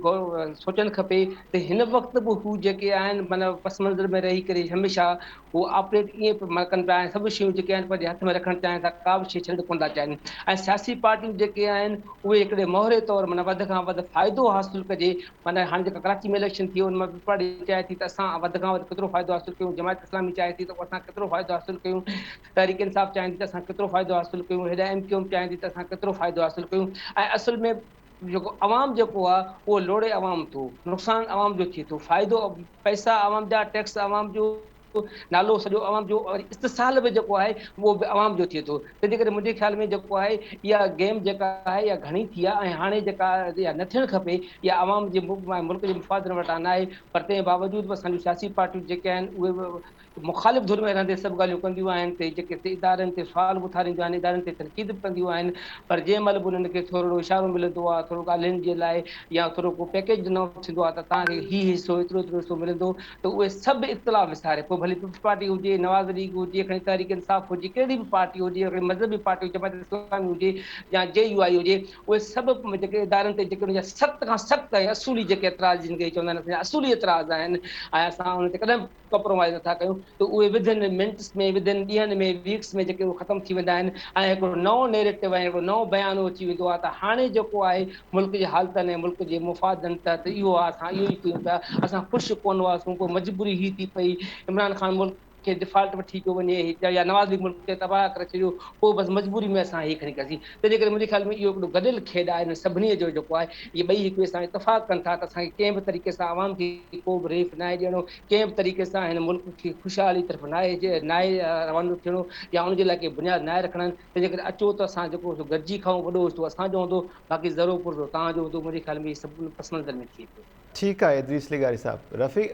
سوچڻ کپي ته هن وقت به هو جيڪي آهن معنيٰ پس منظر ۾ رهي ڪري هميشه هو آپريٽ ائين ڪن پيا ۽ سڀ شيون جيڪي آهن پنهنجي هٿ ۾ رکڻ چاهين ٿا ڪا به شيء ڇڏڻ ڪونه ٿا چاهين ۽ سياسي پارٽيون جيڪي آهن اهي هڪڙي مهوري طور معنيٰ وڌ کان وڌ فائدو حاصل ڪجي معنيٰ هاڻي جيڪا ڪراچي ۾ اليڪشن ٿي ان مان پيپلز پارٽي چاهي ٿي ته اسان وڌ کان وڌ ڪيترو فائدو حاصل ڪيون جماعت اسلامي چاهي ٿي ته اسان ڪيترو فائدو حاصل ڪيون تحريڪ انصاف چاهين ٿي ته اسان ڪيترو فائدو حاصل ڪيون هيڏانهن ايم ڪيو ايم چاهين ٿي ته اسان ڪيترو فائدو حاصل ڪيون ۽ اصل ۾ جيڪو عوام جيڪو آهي اهو لوڙهي عوام ٿو نقصان عوام جو ٿئي ٿو فائدو پئسا عوام جا ٽيڪس عوام جو نالو سڄو عوام جو وري استحصال به جيڪو آهي اهو به عوام جو ٿئي ٿو تنهنجي ڪري منهنجي خيال ۾ جيڪو آهي اها گيم جيڪا آهي اها گهڻي ٿي آهي ۽ هاڻي جيڪا اها نه ٿيڻ کپي اها عوام جي ملڪ جي مفادن وٽان ناهي پر تنهن باوجود به اسان جون سياسي پارٽيون جيڪي آهن اهي مخالف ڌر ۾ رهندي سڀ ڳالهيون ڪنديون آهن تي جيڪي تي ادارن تي سوال به اٿارينديون آهن ادارن تي تنقيد به ڪنديون آهن پر جنهن مهل به انهن کي ٿورڙو اشارو ملندو آهي ٿورڙو ڳالهين جي لاء يا ٿورڙو ڪو پيڪيج ڏنو ٿيندو آهي ته توهان کي هي حصو ايترو ايترو حصو ملندو ته اهي سڀ اختلاف وساري پوء ڀلي پيپلز پارٽي هجي نواز ليگ هجي کڻي تحريڪ انصاف هجي ڪهڙي به پارٽي هجي کڻي مذهبي پارٽي جماعت اسلامي هجي يا جي يو آئي هجي اهي سڀ جيڪي ادارن تي جيڪي ان جا سخت کان سخت ۽ اصولي جيڪي اعتراض جن کي چوندا آهن اسان جا اصولي اعتراض آهن ۽ اسان ان تي ڪڏهن ڪپرومائيز نٿا ڪيون ته اهي وڌن منٽس ۾ وڌن ڏينهن ۾ ويڪس ۾ جيڪي اهي ختم ٿي ويندا آهن ۽ هڪڙو نئون نيريٽو ۽ هڪڙو نئون بيانو اچي ويندو آهي ته هاڻي جيڪو آهي ملڪ جي حالتن ۽ ملڪ جي مفادن تحت اهو آهي اسان اهو ئي ڪيون پيا اسان خوش ڪونه هئاسون پوء مجبوري هي ٿي پئي عمران خان ملڪ کي ڊفالٽ وٺي پيو وڃي يا نواز ليگ ملڪ کي تباهه ڪري ڇڏيو پوء بس مجبوري ۾ اسان هي کڻي ڪياسين تنهنجي ڪري منهنجي خيال ۾ اهو هڪڙو گڏيل کيڏ آهي هن سڀني جو جيڪو آهي اهي ٻئي هڪ ٻئي سان اتفاق ڪن ٿا ته اسان کي ڪنهن به طريقي سان عوام کي ڪو به ريف ناهي ڏيڻو ڪنهن به طريقي سان هن ملڪ کي خوشحالي طرف ناهي جي ناهي روانو ٿيڻو يا ان جي لاء ڪي بنياد ناهي رکڻا آهن تنهنجي ڪري اچو ته اسان جيڪو سو گڏجي کائون وڏو اجتو اسان جو هوندو باقي زرو پرزو توهان جو هوندو منهنجي خيال ۾ اهي سڀ پس منظر ۾ ٿئي ٿو. ٺيڪ آهي ادريس لغاري
صاحب. رفيق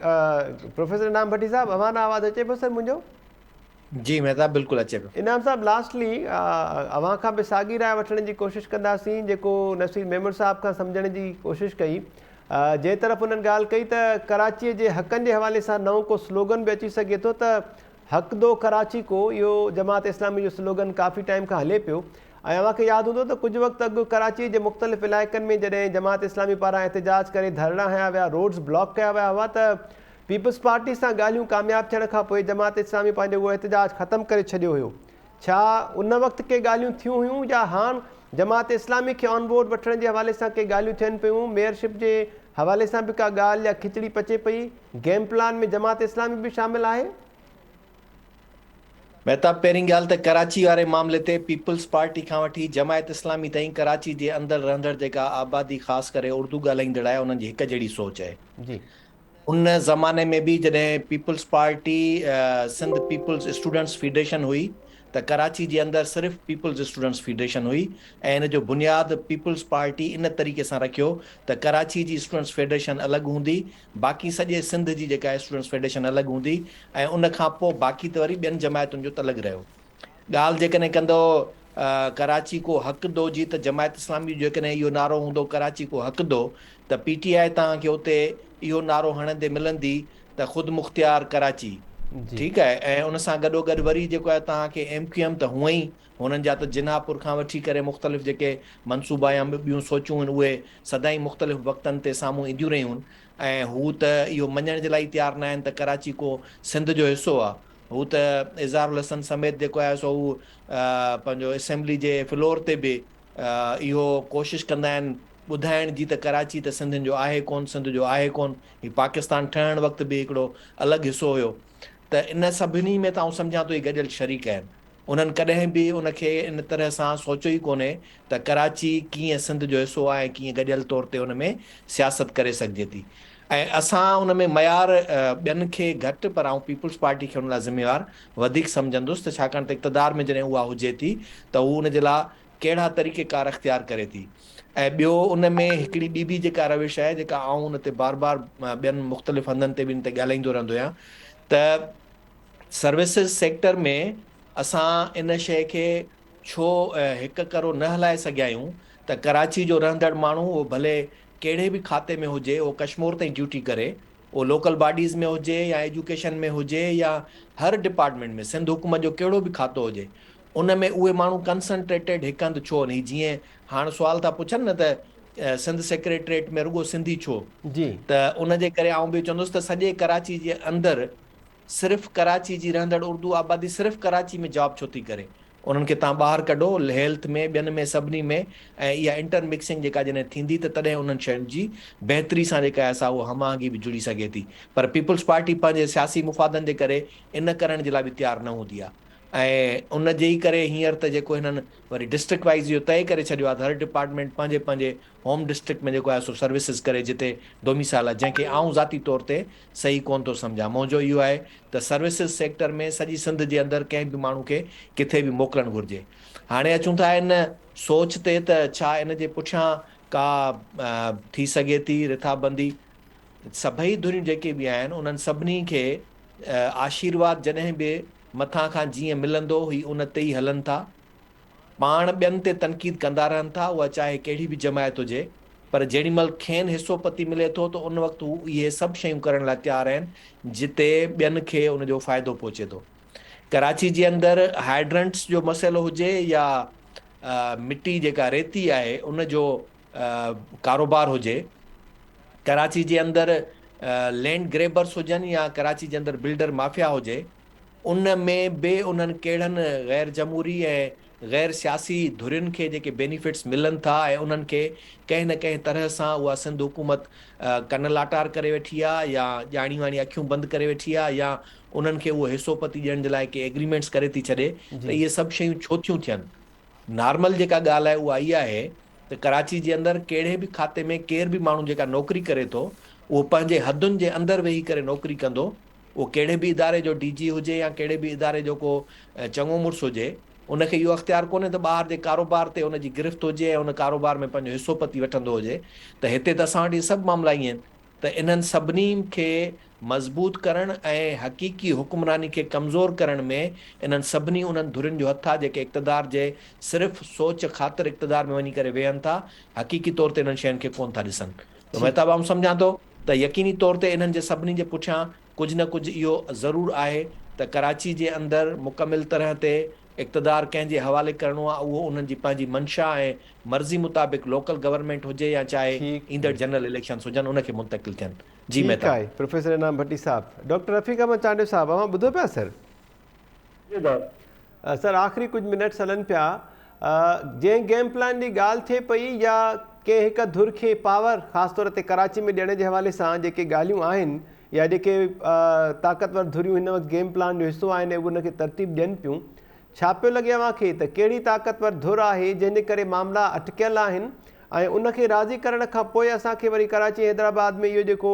پروفيسر انعام ڀٽي صاحب اوهان ڏانهن آواز اچي پيو سر منهنجو؟ جي
مهتاب بلڪل اچي پيو. انعام صاحب لاسٽلي
اوهان کان به ساڳي راء وٺڻ جي ڪوشش ڪنداسين جيڪو نصير ميمڻ صاحب کان سمجهڻ جي ڪوشش ڪئي جنهن طرف انهن ڳالهه ڪئي ته ڪراچي جي حقن جي حوالي سان نئون ڪو سلوگن به اچي سگهي ٿو ته حق دو ڪراچي ڪو اهو جماعت اسلامي جو سلوگن ڪافي ٽائيم کان هلي پيو ۽ اوهان کي ياد هوندو ته ڪجهه وقت اڳ ڪراچي جي مختلف علائقن ۾ جڏهن جماعت اسلامي پاران احتجاج ڪري ڌرڻا هنيا ويا روڊز بلاڪ ڪيا ويا هئا ته پيپلز پارٽي سان ڳالهيون ڪامياب ٿيڻ کان پوء جماعت اسلامي پنهنجو اهو احتجاج ختم ڪري ڇڏيو هيو. ڇا ان وقت ڪي ڳالهيون ٿيون هيون يا هاڻ جماعت اسلامي کي آن بورڊ وٺڻ جي حوالي سان ڪي ڳالهيون ٿين پيون، ميئرشپ جي حوالي سان به ڪا ڳالهه يا کچڙي پچي پئي، گيم پلان ۾ جماعت اسلامي به شامل آهي؟
مهتاب پهرين ڳالهه ته ڪراچي واري معاملي تي پيپلز پارٽي کان وٺي جماعت اسلامي تائين ڪراچي جي اندر رهندڙ جيڪا آبادي خاص ڪري اردو ڳالهائيندڙ آهي انهن جي هڪ جهڙي سوچ آهي. جي.
ان
زماني ۾ به جڏهن Peoples Party Sindh Peoples Students Federation هئي ته ڪراچي جي اندر صرف پيپلز اسٽوڊنٽس فيڊريشن هئي ۽ ان جو بنياد پيپلز پارٽي ان طريقي سان رکيو ته ڪراچي جي اسٽوڊنٽس فيڊريشن الڳ هوندي باقي سڄي سنڌ جي جيڪا اسٽوڊنٽس فيڊريشن الڳ هوندي ۽ ان کان پوء باقي ته وري ٻين جماعتن جو تلڳ رهيو. ڳالهه جيڪڏهن ڪندؤ ڪراچي ڪو حق دؤ جي ته جماعت اسلامي جو جيڪڏهن اهو نعرو هوندو ڪراچي ڪو حق دؤ ته پي ٽي آء توهان کي اتي اهو نعرو هڻندي ملندي ته خودمختيار ڪراچي ٺيڪ آهي ۽ ان سان گڏو گڏ وري جيڪو آهي توهان کي ايم ڪيو ايم ته هونء ئي هنن جا ته جناح پور کان وٺي ڪري مختلف جيڪي منصوبا يا ٻيون سوچون هن اهي سدائين مختلف وقتن تي سامهون اينديون رهيون ۽ هو ته اهو مڃڻ جي لاء ئي تيار ناهن ته ڪراچي ڪو سنڌ جو حصو آهي. هو ته اظهار الحسن سميت جيڪو آهي سو هو پنهنجو اسيمبلي جي فلور تي به اهو ڪوشش ڪندا آهن ٻڌائڻ جي ته ڪراچي ته سنڌين جو آهي ڪون سنڌ جو آهي ڪون هي پاڪستان ٺهڻ وقت به هڪڙو الڳ حصو هيو ته ان سڀني ۾ ته آئون سمجهان ٿو هي گڏيل شريڪ آهن انهن ڪڏهن به ان کي ان طرح سان سوچيو ئي ڪونهي ته ڪراچي ڪيئن سنڌ جو حصو آهي ۽ ڪيئن گڏيل طور تي ان ۾ سياست ڪري سگهجي ٿي ۽ اسان ان ۾ معيار ٻين کي گهٽ پر آئون پيپلز پارٽي کي ان لاء ذميوار وڌيڪ سمجهندس ته ڇاڪاڻ ته اقتدار ۾ جڏهن اها هجي ٿي ته هو ان جي لاء ڪهڙا طريقه ڪار اختيار ڪري ٿي ۽ ٻيو ان ۾ هڪڙي ٻي به جيڪا روش آهي جيڪا آئون ان تي بار بار ٻين مختلف هنڌن تي به ان تي ڳالهائيندو رهندو آهيان ته سروسز سيڪٽر ۾ اسان ان شيء کي ڇو هڪ ڪرو نه هلائي سگهيائون ته ڪراچي جو رهندڙ ماڻهو اهو ڀلي ڪهڙي به کاتي ۾ هجي اهو ڪشمور تائين ڊيوٽي ڪري اهو لوڪل باڊيز ۾ هجي يا ايجوڪيشن ۾ هجي يا هر ڊپارٽمينٽ ۾ سنڌ حڪومت جو ڪهڙو به کاتو هجي ان ۾ اهي ماڻهو ڪنسنٽريٽيڊ هڪ هنڌ ڇو نهي جيئن هاڻ سوال ٿا پڇن نه ته سنڌ سيڪريٽريٽ ۾ رڳو سنڌي ڇو ته ان جي ڪري آئون به چوندس
ته
سڄي ڪراچي جي اندر صرف ڪراچي جي رهندڙ اردو آبادي صرف ڪراچي ۾ جاب ڇو ٿي ڪري انهن کي تان ٻاهر ڪڍو هيلٿ ۾ ٻين ۾ سڀني ۾ ۽ اها انٽر مڪسنگ جيڪا جڏهن ٿيندي ته تڏهن انهن شين جي بهتري سان جيڪا آهي سا اها هم آهنگي به جڙي سگهي ٿي پر پيپلز پارٽي پنهنجي سياسي مفادن جي ڪري ان ڪرڻ جي لاء به تيار نه هوندي آهي ۽ ان جي ئي ڪري هينئر ته جيڪو هنن وري ڊسٽرڪٽ وائيز اهو طئي ڪري ڇڏيو آهي ته هر ڊپارٽمينٽ پنهنجي پنهنجي هوم ڊسٽرڪٽ ۾ جيڪو آهي سو سروسز ڪري جتي ڊوميسائل آهي جنهن کي آئون ذاتي طور تي صحيح ڪونه ٿو سمجهان. منهنجو اهو آهي ته سروسز سيڪٽر ۾ سڄي سنڌ جي اندر ڪنهن به ماڻهو کي ڪٿي به موڪلڻ گهرجي. هاڻي اچون ٿا ان سوچ تي ته ڇا ان جي پٺيان ڪا ٿي سگهي ٿي رٿابندي. سڀئي ڌريون جيڪي به آهن انهن سڀني کي آشيرواد جڏهن به مٿان کان جيئن ملندو هي ان تي ئي هلن ٿا. پاڻ ٻين تي تنقيد ڪندا رهن ٿا اها چاهي ڪهڙي به جماعت هجي پر جيڏي مهل کين حصو پتي ملي ٿو ته ان وقت هو اهي سڀ شيون ڪرڻ لاء تيار آهن جتي ٻين کي ان جو فائدو پهچي ٿو ڪراچي جي اندر هائيڊرنٽس جو مسئلو هجي يا مٽي جيڪا ريتي آهي ان جو ڪاروبار هجي ڪراچي جي اندر لينڊ گريبرس هجن يا ڪراچي جي اندر بلڊر مافيا هجي ان ۾ به انهن ڪهڙن غير جمهوري ۽ غير سياسي ڌرين کي جيڪي بينيفٽس ملن ٿا ۽ انهن کي ڪنهن نه ڪنهن طرح سان اها سنڌ حڪومت ڪن لاٽار ڪري ويٺي آهي يا ڄاڻي واڻي اکيون بند ڪري ويٺي آهي يا انهن کي اهو حصو پتي ڏيڻ جي لاء ڪي ايگريمينٽس ڪري ٿي ڇڏي ته اهي سڀ شيون ڇو ٿيون ٿين. نارمل جيڪا ڳالهه آهي اها اها آهي ته ڪراچي جي اندر ڪهڙي به کاتي ۾ ڪير به ماڻهو جيڪا نوڪري ڪري ٿو اهو پنهنجي حدن جي اندر ويهي ڪري نوڪري ڪندو، اهو ڪهڙي به اداري جو ڊي جي هجي يا ڪهڙي به اداري جو ڪو چڱو مڙس هجي ان کي اهو اختيار ڪونهي ته ٻاهر جي ڪاروبار تي ان جي گرفت هجي ۽ ان ڪاروبار ۾ پنهنجو حصو پتي وٺندو هجي ته هتي ته اسان وٽ اهي سڀ معاملا ائين آهن ته انهن سڀني کي مضبوط ڪرڻ ۽ حقيقي حڪمراني کي ڪمزور ڪرڻ ۾ انهن سڀني انهن ڌرين جو هٿ آهي جيڪي اقتدار جي صرف سوچ خاطر اقتدار ۾ وڃي ڪري ويهن ٿا حقيقي طور تي انهن شين کي ڪونه ٿا ڏسن مهتاب آئون سمجهان ٿو ته يقيني طور تي انهن جي سڀني جي پٺيان ڪجهه نه ڪجهه اهو ضرور آهي ته ڪراچي جي اندر مڪمل طرح تي اقتدار ڪنهن جي حوالي ڪرڻو آهي اهو انهن جي پنهنجي منشا ۽ مرضي مطابق لوڪل گورنمينٽ هجي يا چاهي ايندڙ جنرل اليڪشنس هجن ان کي منتقل ٿين جي ٺيڪ مهتاب. آهي پروفيسر
انعام ڀٽي صاحب. ڊاڪٽر رفيق احمد چانڊيو صاحب اوهان ٻڌو پيا سر. سر آخري ڪجهه منٽس هلن پيا جنهن گيم پلان جي ڳالهه ٿئي پئي يا ڪنهن هڪ ڌر کي پاور خاص طور تي ڪراچي ۾ ڏيڻ جي حوالي سان جيڪي ڳالهيون آهن يا جيڪي طاقتور ڌريون هن وقت گيم پلان جو حصو آهن اهو ان کي ترتيب ڏين پيون ڇا پيو لڳي اوهان کي ته ڪهڙي طاقتور ڌر آهي جنهن جي ڪري معاملا اٽڪيل آهن ۽ ان کي راضي ڪرڻ کان پوء اسان کي وري ڪراچي حيدرآباد ۾ اهو جيڪو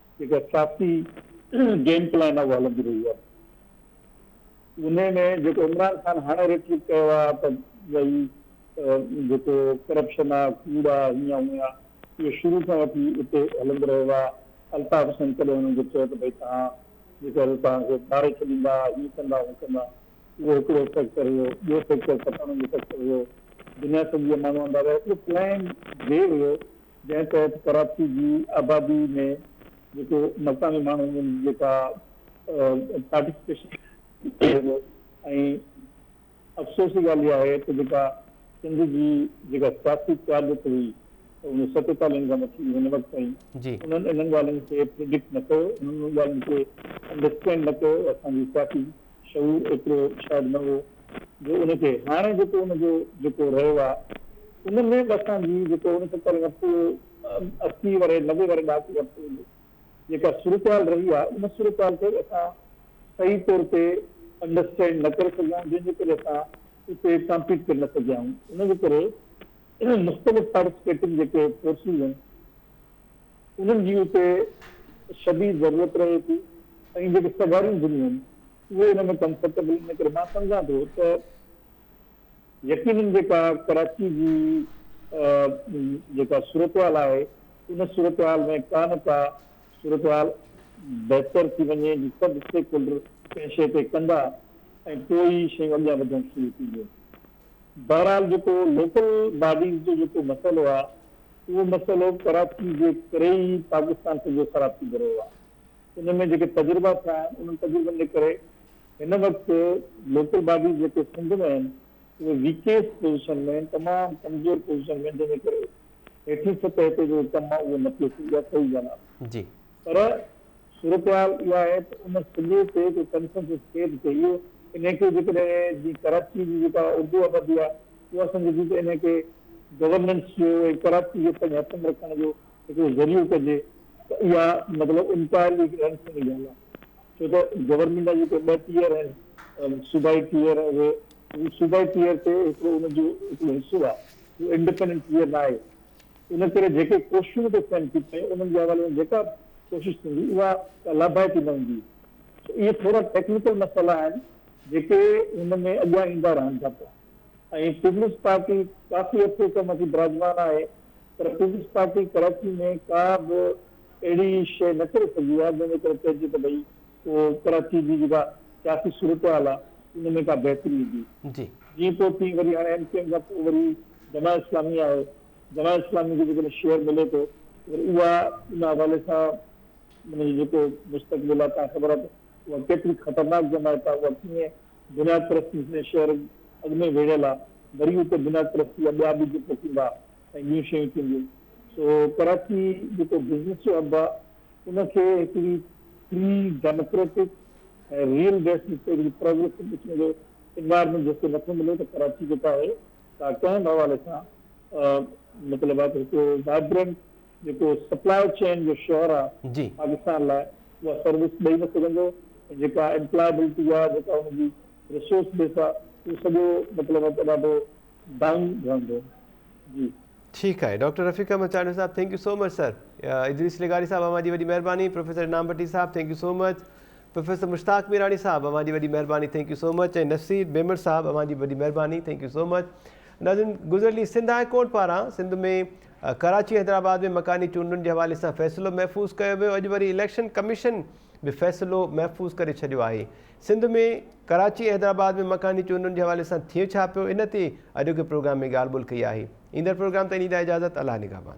جيڪا سياسي گيم پلان اڳ هلندي رهي آهي انهي ۾ جيڪو عمران خان هاڻي ريٽرڪ ڪيو آهي ته ڀئي جيڪو ڪرپشن آهي ڪوڙ آهي هيئن هونئن آهي اهو شروع کان وٺي اتي هلندو رهيو آهي الطاف حسين ڪڏهن انهن کي چيو ته ڀئي توهان جيڪو هي توهان کي ٻاري ڇڏيندا هيئن ڪندا هونئن ڪندا اهو هڪڙو فيڪٽر هيو ٻيو فيڪٽر پٺاڻن جو فيڪٽر هيو دنيا سڄي جا ماڻهو آندا ويا اهو پلان جي هيو جنهن تحت ڪراچي جي آبادي ۾ جيڪو مڪاني ماڻهن جي جيڪا پارٽيسپيشن ٿيندو ۽ افسوس جي ڳالهه اها آهي ته جيڪا سنڌ جي جيڪا سياسي قيادت هئي انهن ستيتالهن کان وٺي هن وقت تائين انهن انهن ڳالهين کي پريڊڪٽ نه ڪيو انهن انهن ڳالهين کي انڊرسٽينڊ نه ڪيو اسان جي سياسي شعور ايترو شايد نه هو جو ان کي هاڻي جيڪو ان جو جيڪو رهيو آهي ان ۾ به اسان جي جيڪو ان کان پهرين وقت اهو اسي ورهيه نوي ورهيه ڏهاڪو وقت هو جو جيڪا صورتحال رهي آهي ان صورتحال کي اسان صحيح طور تي انڊرسٽينڊ نه ڪري سگهيا آهيون جنهن جي ڪري اسان اتي ڪامپيٽ ڪري نه سگهيا آهيون ان جي ڪري مختلف پارٽيسپيٽنگ جيڪي فورسز آهن. انهن جي اتي شديد ضرورت رهي ٿي ۽ جيڪي سگهاريون ڌنيون آهن اهي ان ۾ ڪمفرٽيبل ان ڪري مان سمجهان ٿو ته يقينن جيڪا ڪراچي جي جيڪا صورتحال آهي ان صورتحال ۾ ڪا نه ڪا صورتحال بهتر ٿي وڃي جي سڀ اسٽيڪ هولڊر ڪنهن شيء تي ڪندا ۽ پوء ئي شيون اڳيان وڌڻ شروع ٿينديون بهرحال جيڪو لوڪل باڊيز جو جيڪو مسئلو آهي اهو مسئلو ڪراچي جي ڪري ئي پاڪستان سڄو خراب ٿيندو رهيو آهي. ان ۾ جيڪي تجربا ٿيا آهن، انهن تجربن جي ڪري هن وقت لوڪل باڊيز جيڪي سنڌ ۾ آهن، اهي ويڪيسٽ پوزيشن ۾ آهن، تمام ڪمزور پوزيشن ۾ آهن، جنهن جي ڪري هيٺين سطح تي جيڪو ڪم آهي، اهو نه پيو ٿئي يا ٿئي ئي نه. جي. پر صورتحال اها آهي ته ان سڄي تي ڪو ڪنسنسس ٿئي ته چئي اهو انهي کي جيڪڏهن جيئن ڪراچي جي جيڪا اردو آبادي آهي اها سمجهي ٿي ته انهي کي گورننس جو ۽ ڪراچي کي پنهنجي هٿ ۾ رکڻ جو هڪڙو ذريعو ڪجي ته اها مطلب انٽائرلي هڪ اهڙي قسم جي ڳالهه آهي ڇو ته گورنمينٽ جا جيڪي ٻه ٽيئر آهن صوبائي ٽيئر ۽ اهي صوبائي ٽيئر تي هڪڙو ان جو هڪڙو حصو آهي اهو انڊپينڊنٽ ٽيئر ناهي ان ڪري جيڪي ڪوششون به ڪو ٿين ٿيون ۽ انهن جي حوالي سان جيڪا به ڪوشش ٿيندي اها ڪا لاڀائتي نه هوندي. سو اهي ٿورا ٽيڪنيڪل مسئلا آهن جيڪي هن ۾ اڳيان ايندا رهن ٿا پيا ۽ پيپلز پارٽي ڪافي عرصي کان مٿي براجمان آهي پر پيپلز پارٽي ڪراچي ۾ ڪا به اهڙي شيء نه ڪري سگهي آهي جنهن جي ڪري چئجي ته ڀئي پوء ڪراچي جي جيڪا سياسي صورتحال آ ان ۾ ڪا بهتري ايندي. جيئن پوء تيئن وري هاڻي ايم ڪيو ايم کان پوء وري جماعت اسلامي آهي، جماعت اسلامي کي جيڪڏهن شيئر ملي ٿو ته وري اها ان حوالي سان ان جو جيڪو مستقبل آ تان خبر آ ته اها ڪيتري خطرناڪ جماعت آ، اها ڪيئن بنياد پرستي سندس شهر اڳ ۾ ويڙهيل آ، وري اتي بنياد پرستي جا ٻيا ٻج پوکيندا ۽ ٻيون شيون ٿينديون. سو ڪراچي جيڪو بزنس جو هب آ، ان کي هڪڙي فري، ڊيموڪريٽڪ ۽ ريل بيسڊ هڪڙي پروگريسو قسم جو انوائرمينٽ جيڪو نٿو ملي ته ڪراچي جيڪو آهي سا ڪنهن به حوالي سان مطلب آهي ته هڪڙو وائبرنٽ جيڪو سپلاء چين جو شهر آهي پاڪستان لاء اها سروس ڏئي نه سگهندو ۽ جيڪا امپلائبلٽي آهي جيڪا ان جي رسورس بيس آهي اهو سڄو مطلب آهي ته ڏاڍو ڊائون رهندو جي. ٺيڪ آهي
doctor Rafiq Ahmed Chandio sahib thank you so much sir Idrees لغاري صاحب اوهان جي وڏي مهرباني professor Inam Bhatti sahib thank you so much professor Mushtaq Mirani sahib اوهان جي وڏي مهرباني thank you so much ۽ Naseer Bemar sahib اوهان جي وڏي مهرباني ٿينڪ يو سو مچ ناظرين گذريل سنڌ هاء ڪورٽ پاران سنڌ ۾ ڪراچي حيدرآباد ۾ مڪاني چونڊن جي حوالي سان فيصلو محفوظ ڪيو ويو اڄ وري اليڪشن ڪميشن به فيصلو محفوظ ڪري ڇڏيو آهي سنڌ ۾ ڪراچي ۽ حيدرآباد ۾ مڪاني چونڊن جي حوالي سان ٿئي ڇا پيو ان تي اڄوڪي پروگرام ۾ ڳالهه ٻولهه ڪئي آهي ايندڙ پروگرام تائين ڏيندا اجازت الله نگهبان.